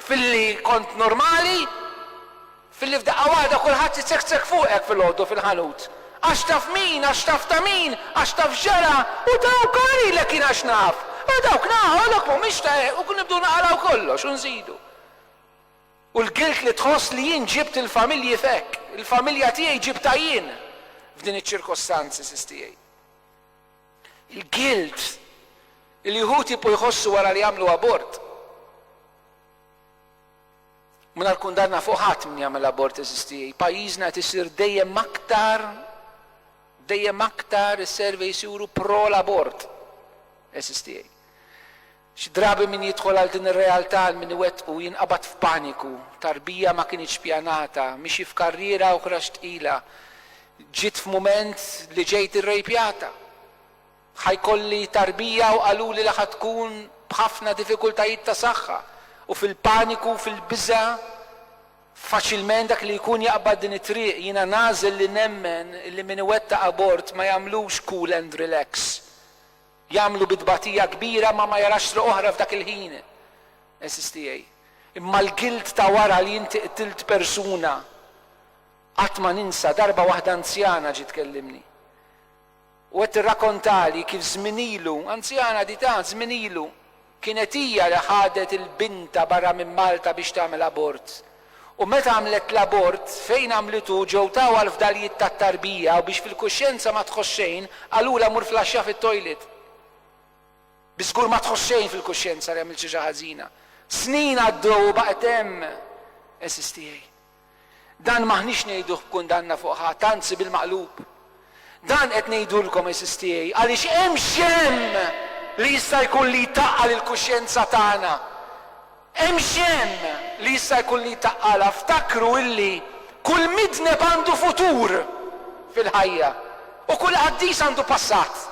Filli kont normali, Filli f'daqqa waħda kulħadd jiċekċek fuqek filgħodu fil-ħanut. Għax taf min, għax taf ta' min, għax taf x'ġara, u dawk għamilek jien għax naf, u dawk nagħqolok mhumiex ta' hekk u nibdew naqalgħu kollox u nżidu. U l-gilt li tħoss li jien ġibt il-familji f'hekk, il-familja tiegħi ġibtha jien f'din iċ-ċirkostanzi, sis tiegħi. Il-gilt li wħud jibqgħu jħossu wara li jagħmlu abort. Mingħajr kundanna fuq ħadd min jagħmel abort eżisti, pajjiżna qed isir dejjem aktar dejjem aktar is-surveys juru pro l-abort eżisti. Xi drabi min jidħol għal din ir-realtà għal min iwettqu jinqabad f'paniku, tarbija ma kinitx ppjanata, mixi f'karriera oħra x'tqila, ġiet f'mument li ġejt irrejpjata. Ħa jkolli tarbija u qaluli li ħa tkun b'ħafna diffikultajiet ta' saħħa u fil-paniku u fil-biża' faċilment dak li jkun jaqbad din it-triq. Jiena nagħżel li nemmen li min iwettaq abort ma jagħmlux cool and relax. Jagħmlu bi tbatija kbira ma ma jarax triq oħra f'dak il-ħin. Għeżież tiegħi. Imma l-guilt ta' wara li inti qtilt persuna. Qatt ma ninsa darba waħda anzjana ġiet tkellimni. U qed tirrakontali kif żmien ilu, anzjana di ta', żmien ilu, kienet hija li ħadet 'il bintha barra minn Malta biex tagħmel abort. U meta għamlet l-abort, fejn għamlitu ġew tawha l-fdalijiet tat-tarbija u biex fil-kuxjenza ma tħoss xejn, qalulha mur flaxxa fit-toilet. Bi żgur ma tħoss xejn fil-kuxjenza li għamilt xi ħaġa ħażina. Snin għaddew u baqgħet hemm, insistiej. Dan m'aħniex ngħiduh b'kundanna fuq ħadd, anzi bil-maqlub. Dan qed ngħidulkom, għeżież tiegħi, għaliex hemm x'hemm li jista' jkun li jtaqqal il-kuxjenza tagħna. Hemm x'hemm li jista' jkun li jtaqqalha. Ftakru illi kull midneb għandu futur fil-ħajja u kull qaddis għandu passat.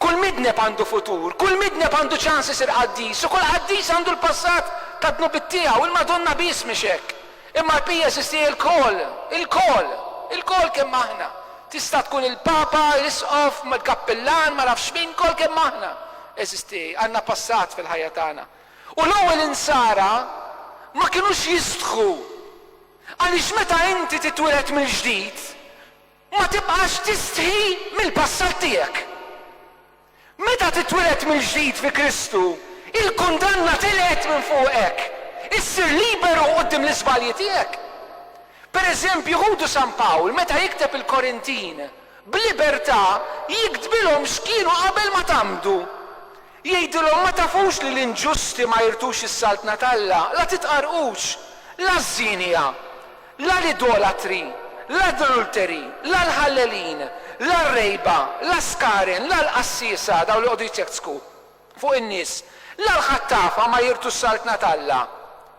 Kull midneb għandu futur, kull midneb għandu ċans isir qaddis u kull qaddis għandu l-passat tad-dnubiet tiegħu. Il-Madonna biss mhix hekk. Imma l-Pija jeżisti ilkoll, ilkoll, ilkoll kemm aħna. Tista' tkun il-Papa, l-Isqof, il-Kappillan, ma nafx min, lkoll kemm aħna. Eżisti, għandna passat fil-ħajja tagħna. U l-ewwel Insara ma kinux jistħu. Għaliex meta inti titwieled mill-ġdid, Ma tibqax tistħi mill-passat tiegħek. Meta titwieled mill-ġdid fi Kristu, il-kundanna telgħet minn fuqek. Issir liberu quddiem l-iżbalji tiegħek. Pereżempju, ħudu San Pawl meta jikteb il-Korintin, b'libertà jiktbilhom x'kienu qabel ma tgħammdu. Jgħidilhom, Ma tafux li l-inġusti ma jirthux is-saltna t'Alla? La titqarrqux, la ż-żienija, la l-idolatri, la d-dlulteri, la l-ħallelin, la r-rejba, la s-skaren, la l-qassiesa, dawk li jqogħdu jiċċekċku fuq in-nies, la l-ħattafa ma jirthu s-saltna t'Alla.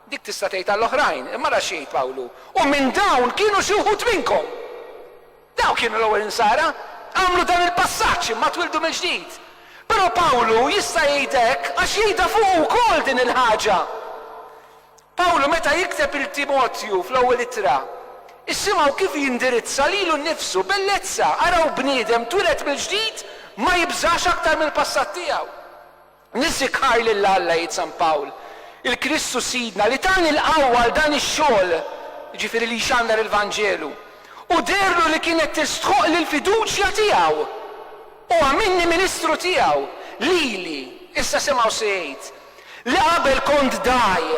Dik tista' tgħid għall-oħrajn, imma ara x'jgħid Pawlu, U minn dawn kienu xi wħud minnkom! Dawk kienu l-ewwel Insara. Għamlu dan il-passaġġ imma twieldu mill-ġdid. Però Pawlu jista' jgħid hekk għax jgħidha fuqu wkoll din il-ħaġa. Pawlu meta jikteb lil Timotju fl-ewwel ittra, issimgħu kif jindirizza lilu nnifsu, Bellezza, araw bniedem twieled mill-ġdid ma jibżax aktar mill-passat tiegħu. Nisikkar lil Alla, jgħid San Pawl, il-Kristu Sidna, li tani l-qawwa għal dan ix-xogħol, jiġifieri li jxandar il-Vanġelu, u deherlu li kienet tistħoqqli l-fiduċja tiegħu. U għamilni ministru tiegħu, lili, issa semgħu se jgħid, li qabel kont dgħaj,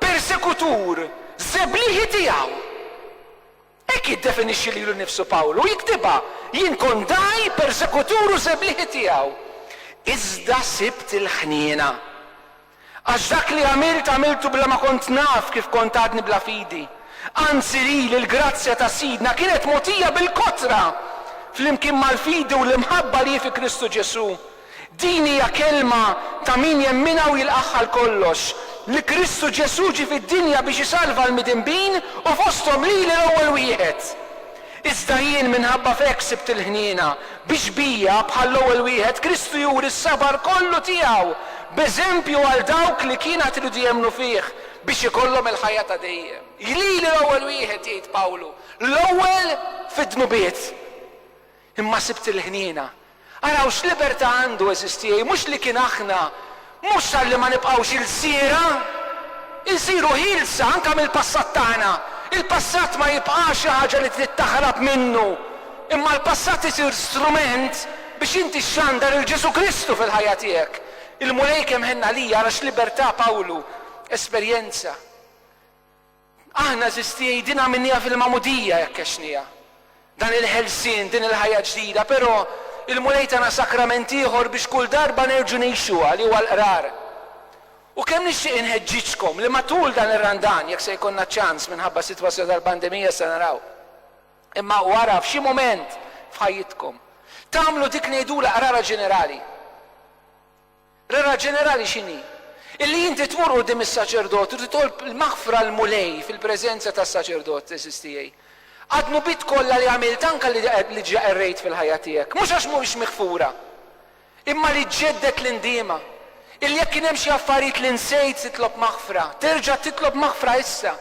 persekutur, żeblieħi tiegħu. Hekk jiddefinixxi lilu nnifsu Pawlu u jiktibha, Jien kont dgħaj, persekutur u żeblieħi tiegħu, iżda sibt il-ħniena. Għax dak li għamilt, għamiltu bla ma kont naf kif kont għadni bla fidi. Anzi lili l-grazzja ta' Sidna kienet mogħtija bil-kotra, flimkien mal-fidi u l-imħabba li hi fi Kristu Ġesù. Din hija kelma ta' min jemminha u jilqagħha għal kollox, li Kristu Ġesù ġie fid-dinja biex isalva l-midinbin u fosthom lili l-ewwel wieħed. Iżda jien minħabba f'hekk sibt il-ħniena, biex bija, bħall-ewwel wieħed, Kristu juri s-sabar kollu tiegħu, b'eżempju għal dawk li kien għad iridu jemmnu fih, biex ikollhom il-ħajja ta' dejjem. Lili l-ewwel wieħed, jgħid Pawlu, l-ewwel fid-dnubiet. Imma sibt il-ħniena. Araw x'libertà għandu, għeżież tiegħi, mhux li kien aħna, mhux talli ma nibqgħux ilsiera. Insiru ħielsa anke mill-passat tagħna. Il-passat ma jibqax xi ħaġa li trid taħrab minnu, imma l-passat isir strument biex inti xxandar lil Ġesù Kristu fil-ħajja tiegħek. Il-Mulej kemm ħenn għalija, ara x'libertà Pawlu esperjenza. Aħna Żisti jgħidilha minniha fil-Magħmudija jekk għexnieha dan il-ħelsien, din il-ħajja ġdida, però il-Mulej tana sakrament ieħor biex kull darba nerġgħu ngħixuha li huwa l-Qrar. U kemm nixtieq inħeġġiġkom li matul dan ir-Randan, jekk se jkollna ċans minħabba s-sitwazzjoni tal-pandemija se naraw, imma wara f'xi mument f'ħajjitkom, tagħmlu dik ngħidulha Qrara Ġenerali. Regola ġenerali x'inhi? Illi inti tmur quddiem is-saċerdot u titolb il-maħfra l-Mulej fil-preżenza tas-saċerdot, għeżież tiegħi. Għad-dnubiet kollha li għamilt anke li diġà qerrejt fil-ħajja tiegħek. Mhux għax mhumiex miħfura. Imma li ġġedded l-indiema. Illi jekk kien hemm xi affarijiet li nsejt titlob maħfra, terġa' titlob maħfra issa.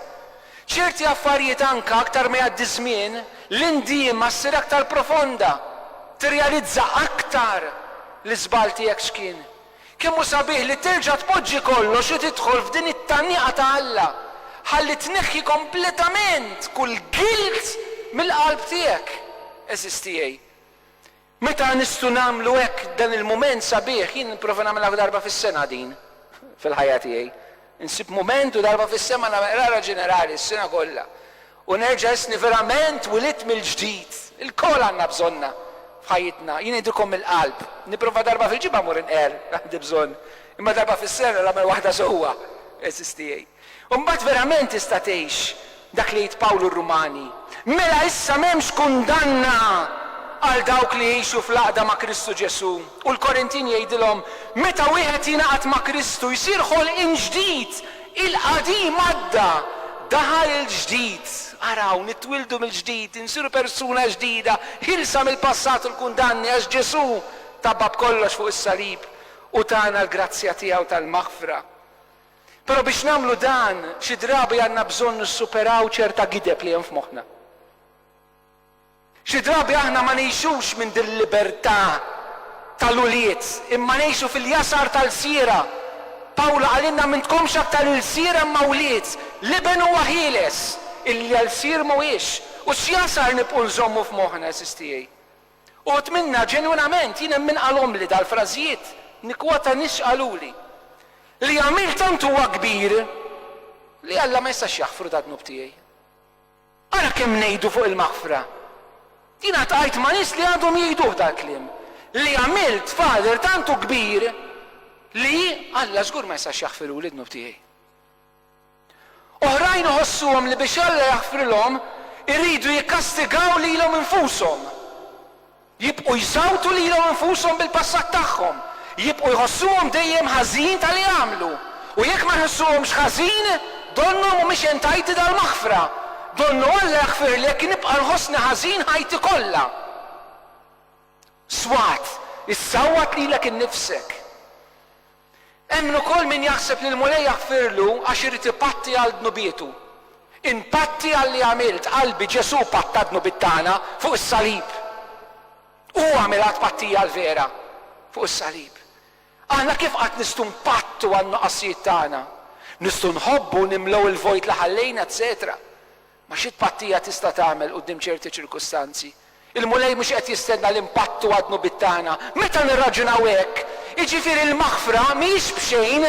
Ċerti affarijiet anke aktar ma jgħaddi ż-żmien, l-indiema ssir aktar profonda, tirrealizza aktar l-iżball tiegħek x'kien. Kemm hu sabiħ li terġa' tpoġġi kollox u tidħol f'din it-taniqa ta' Alla, ħalli tneħħi kompletament kull gilt mill-qalb tiegħek, għeżież tiegħi. Meta nistgħu nagħmlu hekk dan il-mument sabiħ? Jien nipprova nagħmilha f'dar darba fis-sena din fil-ħajja tiegħi. Insib mument u darba fis-sema nagħmel qrara ġenerali s-sena kollha u nerġa' ħissni verament wilidt mill-ġdid. Ilkoll għandna bżonnha f'ħajjitna. Jien ngħidilkom mill-qalb, nipprova darba fil-ġimgħa mmur inqerr, għandi bżonn, imma darba fis-sena nagħmel waħda sewwa, għeżież tiegħi. U mbagħad verament tista' tgħix dak li għid Pawlu r-Rumani, Mela issa m'hemmx kundanna għal dawk li jgħixu fl-għaqda ma' Kristu Ġesù. U l-Korintin jgħidilhom, Meta wieħed jingħaqad ma' Kristu jsir ħolqien ġdid, il-qadim għadda, daħal il-ġdid. Araw, nitwieldu mill-ġdid, insiru persuna ġdida, ħielsa mill-passat u l-kundanni għax Ġesù tapa b'kollox fuq is-salib u tana l-grazzja tiegħu tal-maħfra. Però biex nagħmlu dan, xi drabi għandna bżonn nissuperaw ċerta gideb li hemm f'moħħna. Xi drabi aħna ma ngħixux minn dil-libertà tal-ulied, imma ngħixu fil-jasar tal-lsiera. Pawlu qalilna m'intkomx aktar ilsiera imma wlied. L-Iben huwa ħieles, illi lsier mhuwiex. U x'jasar nibqgħu nżommu f'moħħna, għeżież tiegħi? Uħud minna ġenwinament jien hemm min qalhomli dal-frażijiet, nikkwota nies x'qaluli, Li għamilt tant huwa kbir li Alla ma jistax jaħfru dad-dnub tiegħi. Ara kemm ngħidu fuq il-maħfra! Jiena ltqajt ma' nies li għadhom jgħiduh dal-kliem, Li għamilt Father tant hu kbir li Alla żgur ma jistax jaħfiruli d-dnub tiegħi. Oħrajn iħossuhom li biex Alla jaħfrilhom iridu jikkastigaw lilhom infushom. Jibqgħu jsawtu lilhom infushom bil-passat tagħhom. Jibqgħu jħossuhom dejjem ħażin ta' li għamlu. U jekk ma jħossuhomx ħażin, donnhom mhumiex entajti dal-maħfra. Donnu Alla jaħfirli jekk nibqa' nħossni ħażin ħajti kollha. Swat, issawwat lilek innifsek. Hemm ukoll min jaħseb li l-Mulej jaħfirlu għax irid ipatti għal dnubietu. Inpatti għalli għamilt, qalbi, Ġesù patta d-dnubiet tagħna fuq is-salib. Hu għamilha t-tpattija l-vera fuq is-salib. Aħna kif qatt nistgħu npattu għan-nuqqasijiet tagħna? Nistgħu nħobbu nimlew il-vojt li ħallejna, eċċetera Ma xi tpattija tista' tagħmel quddiem ċerti ċirkustanzi? Il-Mulej mhux qed jistenna li npattu għad-dnubiet tagħna. Meta nirraġunaw hekk, jiġifieri l-maħfra mhijiex b'xejn,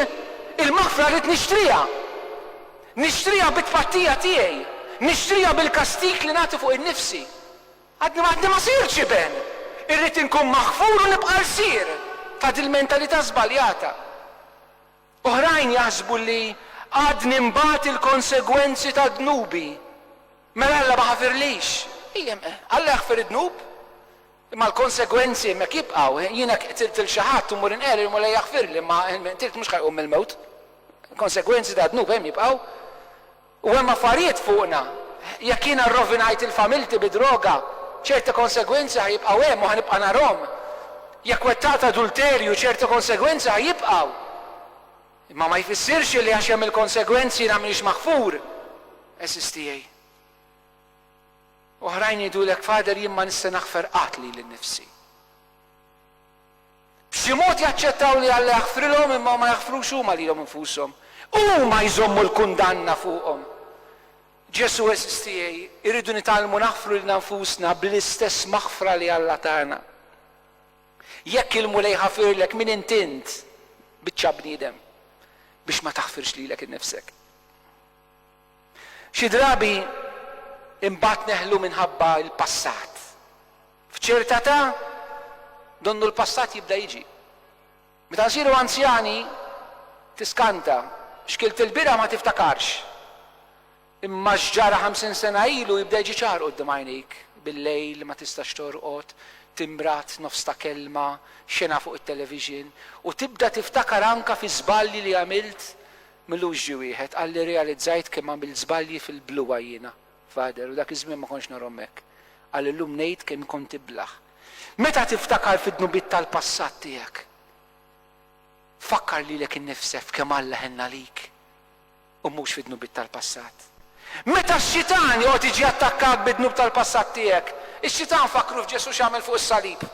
il-maħfra rrid nixtriha. Nixtriha bit-tpattija tiegħi, nixtriha bil-kastig li nagħti fuq innifsi. Għadni għadni ma sirtx iben! Irrid inkun maħfur u nibqa' lsir ta' dil-mentalità żbaljata. Oħrajn jaħsbu li għadni nbat il-konsegwenzi ta' dnubi. Mela Alla ma ħafirlix. Ejjem, Alla jaħfir id-dnub, imma l-konsegwenzi hemmhekk jibqgħu. Jiena qtilt lil xi ħadd u mmur inqerri, il-Mulej jaħfirli, imma min qtilt mhux ħa jqum mill-mewt. Il-konsegwenzi tad-dnub hemm jibqgħu. U hemm affarijiet fuqna. Jekk jiena rrovinajt lil familti bid-droga, ċerti konsegwenzi ħa jibqgħu hemm u ħa nibqa' narhom. Jekk wettaqt adulterju, ċerti konsegwenzi ħa jibqgħu. Imma ma jfissirx illi għax hemm il-konsegwenzi jiena m'iniex maħfur, għeżież tiegħi. Oħrajn jgħidulek, Father, jien ma nista' naħfer qatt lili nnifsi. B'xi mod jaċċettaw li Alla jaħfrilhom imma ma jaħfrux huma lilhom infushom. Huma jżommu l-kundanna fuqhom. Ġesù għeżież tiegħi, irridu nitgħallmu naħfru lilna nfusna bl-istess maħfra li Alla tana. Jekk il-Mulej ħafirlek min int int, biċċa bniedem, biex ma taħfirx lilek innifsek? Xi drabi imbagħad neħlu minħabba l-passat. F'ċerta età, donnu l-passat jibda jiġi. Meta nsiru anzjani, tiskanta, x'kilt ilbieraħ ma tiftakarx. Imma x'ġara ħamsin sena ilu jibda jiġi ċar quddiem għajnejk, billejl, ma tistax torqod, timbrat, nofs ta' kelma, xena fuq it-television, u tibda tiftakar anke fi żbalji li għamilt. M'ilux ġie wieħed qalli rrealizzajt kemm għamilt żbalji fil-bluha jiena. Father, u dak iż-żmien ma kontx narhom hekk, qal illum ngħid kemm kont tiblah. Meta tiftakar fid-dnubiet tal-passat tiegħek, fakkar lilek innifsek f'kemm Alla ħenn għalik u mhux fid-dnubiet tal-passat. Meta x-xitan joqgħod jiġi jattakkak bid-dnub tal-passat tiegħek, ix-xitan fakkru f'Ġesù x'għamel fuq is-salib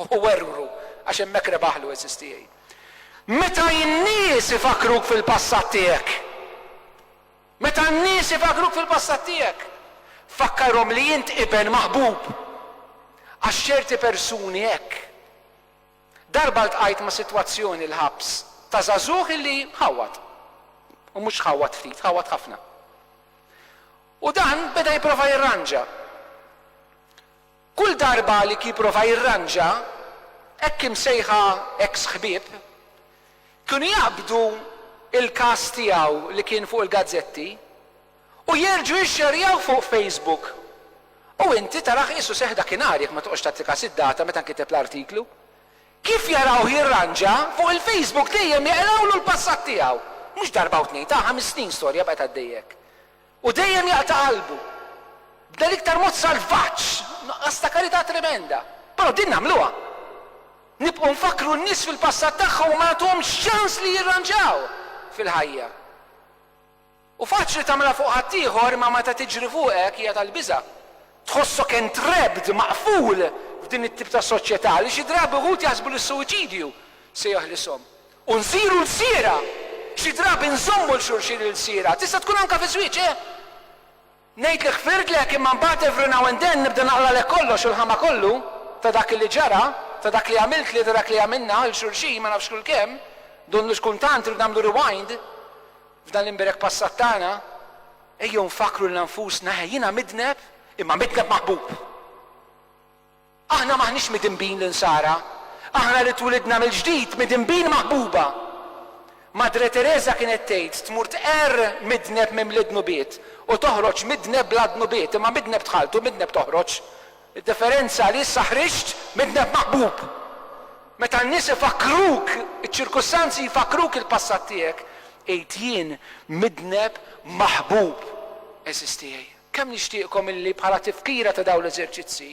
u werwru għax hemmhekk rebaħlu għeżież tiegħi. Meta in-nies ifakkruk fil-passat tiegħek, Meta n-nies ibagruk fil-passat tiegħek, fakkarhom li int iben maħbub, għax ċerti persuni hekk. Darba ltqajt ma' sitwazzjoni l-ħabs ta' żagħżugħ illi ħawwad. U mhux ħawwad ftit, ħawwad ħafna. U dan beda jipprova jirranġa. Kull darba Alec jipprova jirranġa, hekk imsejħa eks ħbieb kienu jaqbdu l-każ tiegħu li kien fuq il-gazzetti u jerġgħu jixxerjawh fuq Facebook u inti tarah qisu seħħ dakinhar jekk ma toqgħodx tagħti kas id-data meta nkiteb l-artiklu. Kif jarawh jirranġa, fuq il-Facebook dejjem jeqrawlu l-passat tiegħu. Mhux darba u tnejn, ta' ħames snin storja baqgħet għaddejja hekk. U dejjem jaqta' qalbu. B'dan l-iktar mod salvaġġ! Nuqqas ta' karità tremenda. Però din nagħmluha. Nibqgħu nfakkru n-nies fil-passat tagħhom u ma nagħtuhomx ċans li jirranġaw fil-ħajja. Hu faċli tagħmilha fuq ħaddieħor imma meta tiġri fuqek hija tal-biża'. Tħossok entrapped, maqful, f'din it-tip ta' soċjetà li xi drabi wħud jaħsbu li s-suwiċidju se jeħlishom. U nsiru lsiera! Xi drabi nżommu 'l xulxin il-lsiera. Tista' tkun anke fiż-żwieġ, eh! Ngħidlek ħfirtlek imma mbagħad every now and then nibda naqralek kollox u l-ħama kollu ta' dak li ġara, ta' dak li għamiltli, ta' dak li għamilna 'l xulxin ma nafx kull kemm, donnu x'kun tant irid nagħmlu rewind f'dan l-imberek passat tagħna. Ejjew nfakkru 'lna nfusna, eħe jiena midneb imma midneb maħbub! Aħna m'aħniex midinbin l-Insara, aħna li twilidna mill-ġdid midinbin maħbuba! Madre Tereża kienet tgħid, tmur tqerr midneb mimli dnubiet u toħroġ midneb bla dnubiet, imma midneb dħalt u midneb toħroġ. Id-differenza li issa ħriġt midneb maħbub. Meta n-nies ifakkruk, iċ-ċirkustanzi jfakkruk il-passat tiegħek, għid jien midneb maħbub, għeżież tiegħi. Kemm nixtieqkom illi bħala tifkira ta' dawn l-eżerċizzji,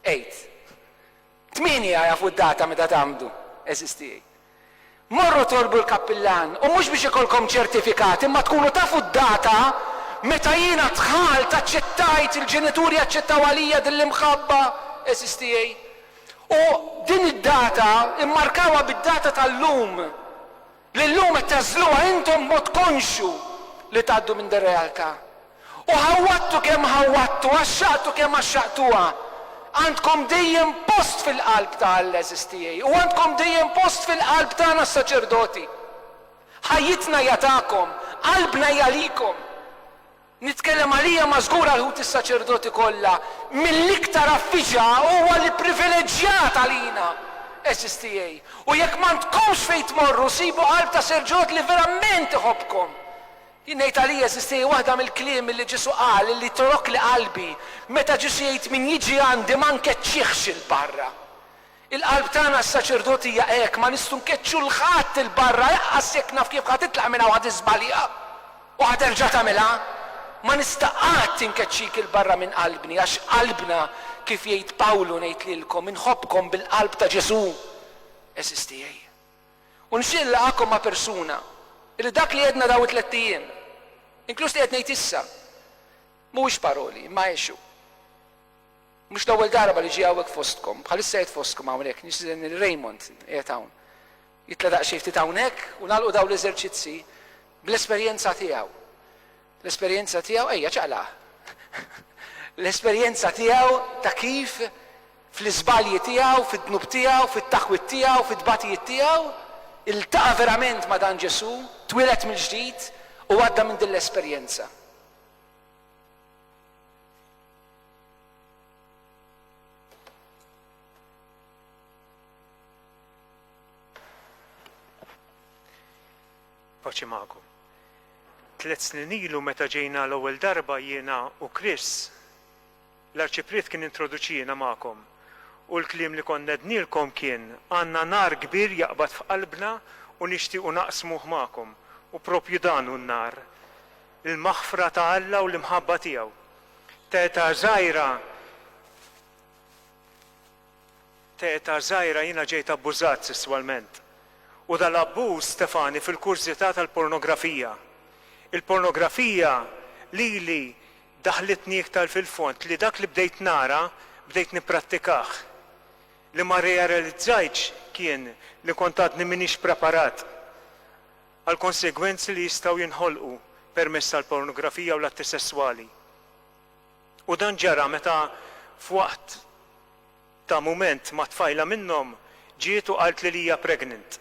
Għid. Tmieni jagħrfu d-data meta tgħammdu, għeżież tiegħi. Morru tolbu l-kappillan, u mhux biex ikollkom ċertifikat, imma tkunu tafu d-data meta jiena dħalt, aċċettajt, il-ġenituri aċċettaw għalija din l-imħabba, għeżież tiegħi. U din id-data, immarkawha bid-data tal-lum. li llum qed tagħżluha intom b'mod konxju li tgħaddu minn dir-realtà. U ħawwadtu kemm ħawwadtu, għaxxaqtu kemm għaxxaqtuha, għandkom dejjem post fil-qalb ta' Alla għeżież tiegħi, u għandkom dejjem post fil-qalb tagħna s-saċerdoti. Ħajjitna hija tagħkom, qalbna hija likom. Nitkellem għalija ma żgur għal ħuti s-saċerdoti kollha, mill-iktar affiġa huwa li privileġġjat għalina, għeżież tiegħi, u jekk m'għandkomx fejn tmorru sibu qalb ta' serġot li verament iħobbkom. Jien ngħid għalija għeżież tiegħi waħda mill-kliem li Ġesu qal li torokli qalbi, meta Ġesu jgħid min jiġi għandi ma nkeċċihx 'il barra. Il-qalb tagħna s-saċerdoti hija hekk, ma nistgħu nkeċċu 'l ħadd 'il barra eqqas jekk naf kif ħa titlaq minn hawn ħa tiżbalja u ħa terġa' tagħmilha. Ma nista' qatt inkeċċik 'il barra minn qalbni għax qalbna, kif jgħid Pawlu ngħid lilkom, inħobbkom bil-qalb ta' Ġesù, għeżież tiegħi. U nixtieq inlaqgħakom ma' persuna li dak li għedna dawn it-tlett ijiem, inkluż li qed ngħid issa, mhuwiex paroli imma għexu. Mhux l-ewwel darba li ġie hawnhekk fostkom. Bħalissa qiegħed fostkom hawnhekk. Nistieden lil Raymond, qiegħed hawn, jitla' daqsxejn ftit hawnhekk u nagħlqu dawn l-eżerċizzji bl-esperjenza tiegħu. L-esperjenza tiegħu, ejja ċaqlaq. L-esperjenza tiegħu ta' kif fl-iżbalji tiegħu, fid-dnub tiegħu, fit-taħwid tiegħu, fit-tbatijiet tiegħu, iltaqa' verament ma' dan Ġesù, twieled mill-ġdid u għadda minn din l-esperjenza. paċi magħkom. Tliet snin ilu meta ġejna l-ewwel darba jiena u Chris, l-arċipriet kien introduċina magħkom u l-kliem li konna ednilkom kien għandna nar kbir jaqbad f'qalbna u nixtiequ naqsmuh magħkom u proprju dan hu n-nar l-maħfra ta' Alla u l-imħabba tiegħu. T'età żgħira T'età żgħira jiena ġejt abbużat sesswalment. U dal-abbuż tefagħni fil-kurżità tal-pornografija. Il-pornografija lili daħħlitni iktar fil-fond li dak li bdejt nara bdejt nipprattikah. Li ma rrealizzajtx kien li kont għadni m'iniex preparat. għall-konsegwenzi li jistgħu jinħolqu permezz tal-pornografija u l-atti sesswali. U dan ġara meta f'waqt ta' mument ma' tfajla minnhom ġiet u qaltli li hija pregnant.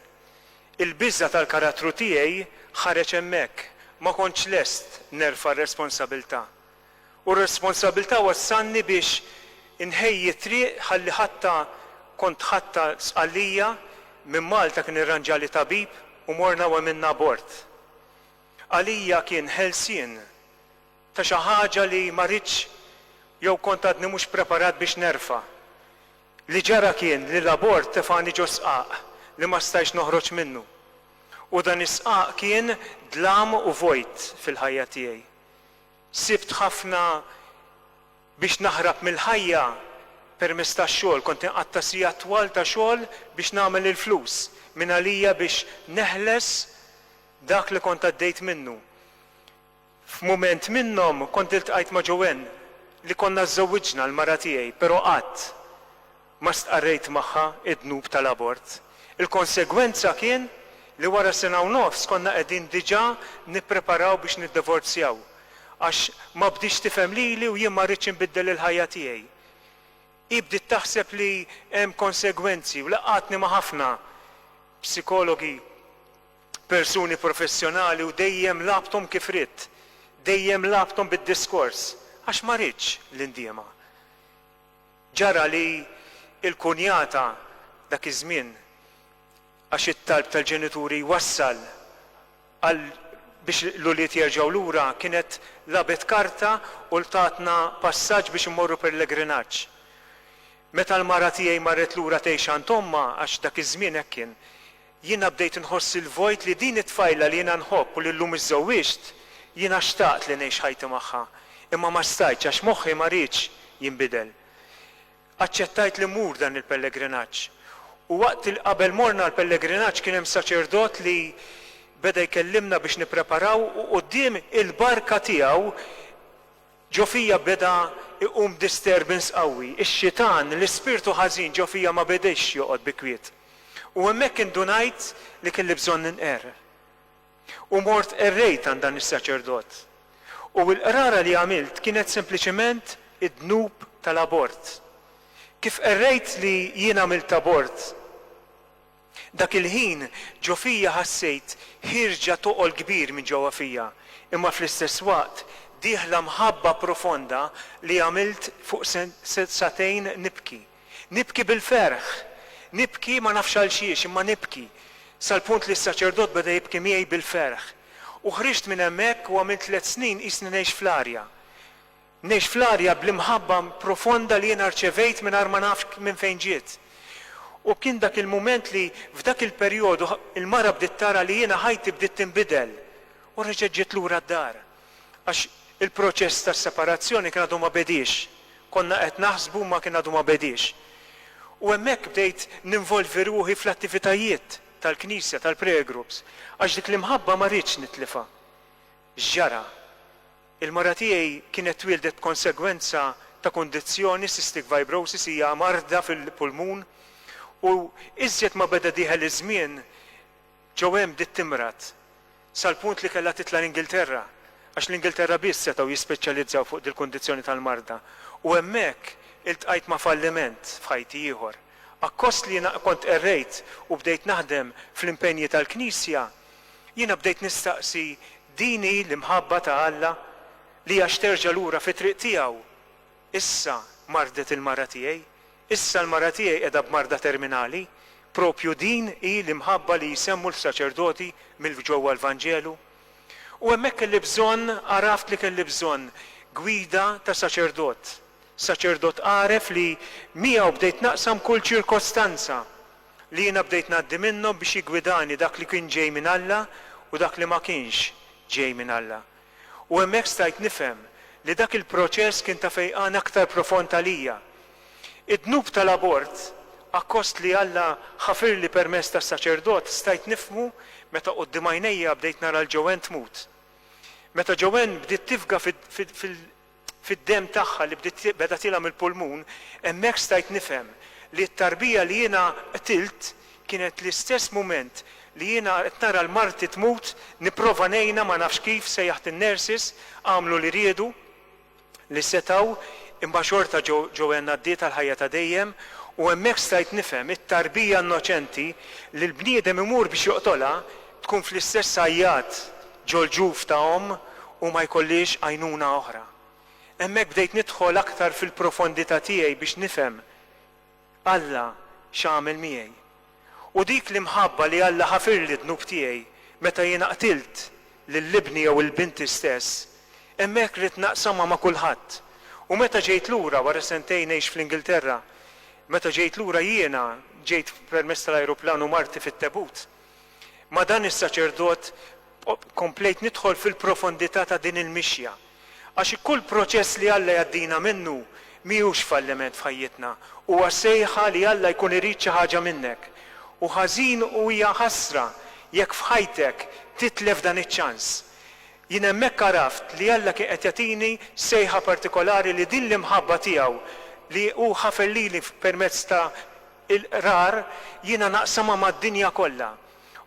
Il-biża' tal-karattru tiegħi ħareġ hemmhekk, ma kontx lest nerfa' r-responsabilità. U r-responsabbiltà wassalni biex inħejji t-triq ħalli ħatta, kont ħatta Sqallija, minn Malta kien irranġali tabib u morna u għemilna abort. Għalija kien ħelsien ta' xi ħaġa li ma ridtx jew kont għadni mhux preparat biex nerfa'. Li ġara kien li l-abort tefagħni ġo sqaq li ma stajtx noħroġ minnu. U dan is-sqaq kien dlam u vojt fil-ħajja tiegħi. Sibt ħafna biex naħrab mill-ħajja permezz tax-xogħol. Kont inqatta' sigħat twal ta' xogħol biex nagħmel il-flus mingħalija biex neħles dak li kont għaddejt minnu. F'mument minnhom kont iltqajt ma' Joanne li konna żżewwiġna, l-mara tiegħi, però qatt. ma stqarrejt magħha d-dnub tal-abort. Il-konsegwenza kien li wara sena u nofs konna qegħdin diġà nippreparaw biex niddivorzjaw għax ma bdietx tifhem lili u jien ma rridtx inbiddel il-ħajja tiegħi. Hi bdiet taħseb li hemm konsegwenzi u laqgħatni ma' ħafna psikologi, persuni professjonali u dejjem lagħbthom kif ridt, dejjem lagħbthom bid-diskors għax ma ridtx li ndiemha. Ġara li l-kunjata dak iż-żmien, għax it-talb tal-ġenituri wassal għal biex l-ulied jerġgħu lura, kienet lagħbet karta u tatna passaġġ biex immorru pellegrinaġġ. Meta l-mara tiegħi marret lura tgħix għand ommha, għax dak iż-żmien hekk kien, Jiena bdejt inħoss il-vojt li din it-tfajla li jiena nħobb u li llum iżżewwiġt, jiena xtaqt li ngħix ħajti magħha, imma ma stajtx għax moħħi ma riedx jinbidel. Aċċettajt li mmur dan il-pellegrinaġġ. U waqt il qabel morna l-pellegrinaġġ kien hemm saċerdot li beda jkellimna biex nippreparaw u quddiem il-barka tiegħu, Ġo fija beda jqum disturbance qawwi. Ix-xitan, l-ispirtu ħażin ġo fija ma bediex joqgħod bi kwiet. U hemmhekk indunajt li kelli bżonn inqerr. U mort qerrejt għand dan is-saċerdot. U l-qrara li għamilt kienet sempliċement id-dnub tal-abort. Kif qerrejt li jien għamilt abort, Dak il-ħin ġo fija ħassejt ħierġa toqol kbir minn ġewwa fija, imma fl-istess waqt dieħla mħabba profonda li għamilt fuq sagħtejn nibki. Nibki bil-ferħ! Nibki ma nafx għalxiex, imma nibki, sal-punt li s-saċerdot beda jibki miegħi bil-ferħ. U ħriġt minn hemmhekk u għamilt tliet snin qisni ngħix fl-arja. Ngħix fl-arja bl-imħabba profonda li jiena rċevejt mingħajr ma naf minn fejn ġiet. U kien dak il-mument li, f'dak il-perjodu, il-mara bdiet tara li jiena ħajti bdiet tinbidel u reġgħet ġiet lura d-dar. Għax il-proċess tas-separazzjoni kien għadu ma bediex. Konna qed naħsbu imma kien għadu ma bediex. U hemmhekk bdejt ninvolvi ruħi fl-attivitajiet tal-Knisja, tal-prayer groups, għax dik l-imħabba ma ridtx nitlifha. X'ġara? Il-mara tiegħi kienet twieldet b'konsegwenza ta' kundizzjoni, cystic fibrosis, hija marda fil-pulmun u iżjed ma beda dieħel iż-żmien ġew hemm bdiet timrad sal-punt li kellha titla' l-Ingilterra għax l-Ingilterra biss setgħu jispeċjalizzaw fuq dil-kundizzjoni tal-marda u hemmhekk iltqajt ma' falliment f'ħajti ieħor. Akkost li jiena kont qerrejt u bdejt naħdem fl-impenji tal-Knisja, Jiena bdejt nistaqsi din hi l-imħabba ta' Alla li għax terġa' lura fit-triq tiegħu? Issa mardet il-mara tiegħi, issa l-mara tiegħi qiegħda b'marda terminali, proprju din hi l-imħabba li jsemmu l-saċerdoti mill-ġewwa l-Vanġelu? U hemmhekk kelli bżonn, għaraft li kelli bżonn gwida ta' saċerdot, saċerdot għaref li miegħu bdejt naqsam kull ċirkostanza. li jiena bdejt ngħaddi minnhom biex jiggwidani dak li kien ġej minn Alla u dak li ma kienx ġej minn Alla. U hemmhekk stajt nifhem li dak il-proċess kien ta' fejqan aktar profond għalija. Id-dnub tal-abort, akkost li Alla ħafirli permezz tas-saċerdot, stajt nifhmu meta quddiem għajnejja bdejt nara 'l Joanne tmut. Meta Joanne bdiet tifga fid-demm tagħha li bdiet beda tilha mill-pulmun, hemmhekk stajt nifhem li t-tarbija li jiena qtilt kienet l-istess mument li jiena qed nara l-marti tmut nipprova ngħinha ma nafx kif sejjaħt in-nurses għamlu li riedu li setgħu imma xorta Joanne għaddiet għal ħajja ta' dejjem u hemmhekk stajt nifhem it-tarbija innoċenti li l-bniedem imur biex joqtolha tkun fl-istess għajjat ġol-ġuf ta' omm u ma jkollhiex għajnuna oħra. Hemmhekk bdejt nidħol aktar fil-profondità tiegħi biex nifhem Alla x'għamel miegħi. U dik l-imħabba li Alla ħafirli d-dnub tiegħi meta jiena qtilt lil ibni jew il-binti stess, hemmhekk ridt naqsamha ma' kulħadd. U meta ġejt lura, wara sentejn ngħix fl-Ingilterra, meta ġejt lura jiena ġejt permezz tal-ajruplan u marti fit-tebut, Ma' dan is-saċerdot komplejt nidħol fil-profondità ta' din il-mixja. Għax kull proċess li Alla jgħaddina minnu mhijiex falliment f'ħajjitna, huwa sejħa li Alla jkun irid xi ħaġa minnek. U ħażin u hija ħasra jekk f'ħajtek titlef dan iċ-ċans. Jien hemmhekk għaraft li Alla kien qed jagħtini sejħa partikolari li din l-imħabba tiegħu li hu ħafer lili permezz ta' Il-Qrar, jiena naqsamha mad-dinja kollha.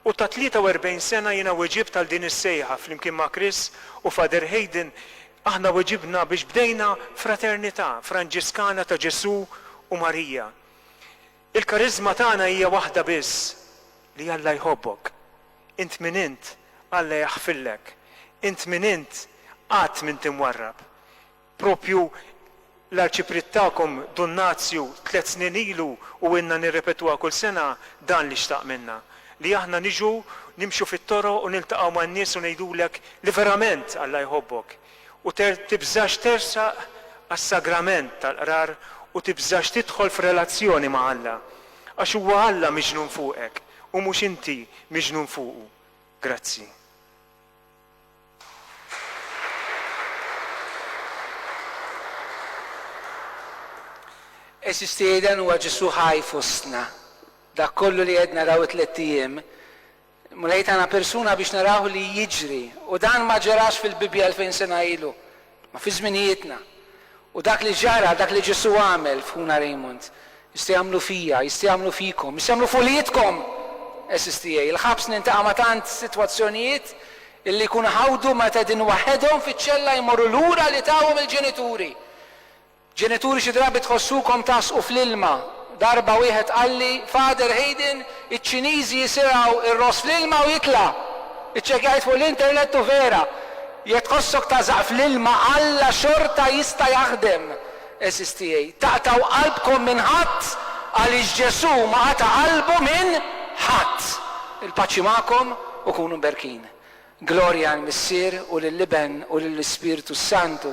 U ta' 43 sena jiena weġibt għal din is-sejħa flimkien ma' Chris u Father Hayden aħna weġibna biex bdejna fraternità Franġiskana ta' Ġesù u Marija. Il-kariżma tagħna hija waħda biss, li Alla jħobbok. Int min int, Alla jaħfillek. Int min int, qatt m'int imwarrab. Proprju l-Arċipriet tagħkom Dun Nazju tliet snin ilu u ilna nirrepetuha kull sena, dan li xtaq minna. Li aħna niġu, nimxu fit-toroq u niltaqgħu man-nies u ngħidulek li verament Alla jħobbok. U tibżax tersaq għas-sagrament tal-Qrar u tibżax tidħol f'relazzjoni ma' Alla. Għax huwa Alla miġnun fuqek u mhux inti miġnun fuqu. Grazzi. Eżis tieden huwa Ġesù ħaj fostna. Dak kollu li qed naraw it-tlett ijiem, Mulej tana persuna biex narawh li jiġri u dan ma ġerax fil-Bibbja 2000 sena ilu. Ma fi żminijietna. U dak li ġara, dak li Ġesù għamel f'ħuna Raymond, jista' jagħmlu fija, jista' jagħmlu fikom, jista' jagħmlu f'uliedkom, għeżież tiegħi. Il-ħabs nintaqa' ma' tant sitwazzjonijiet illi jkunu ħawdu meta qegħdin waħedhom fiċ-ċella jmorru lura li tawhom il-ġenituri. Ġenituri xi drabi tħossukom tagħsqu fl-ilma. Darba wieħed qalli, Father Hayden, iċ-Ċiniżi jisirgħu r-ross fl-ilma u jitla'! Iċċekkjajt fuq l-internet u vera. Jekk tħossok tagħżaq fl-ilma, Alla xorta jista' jaħdem. Għeżież tiegħi, taqtgħu qalbkom minn ħadd għaliex Ġesù ma qata' qalbu minn ħadd. Il-paċi magħkom u kunu mberkin. Glorja għall-Missier u lill-Iben u lill-Ispirtu s-Santu.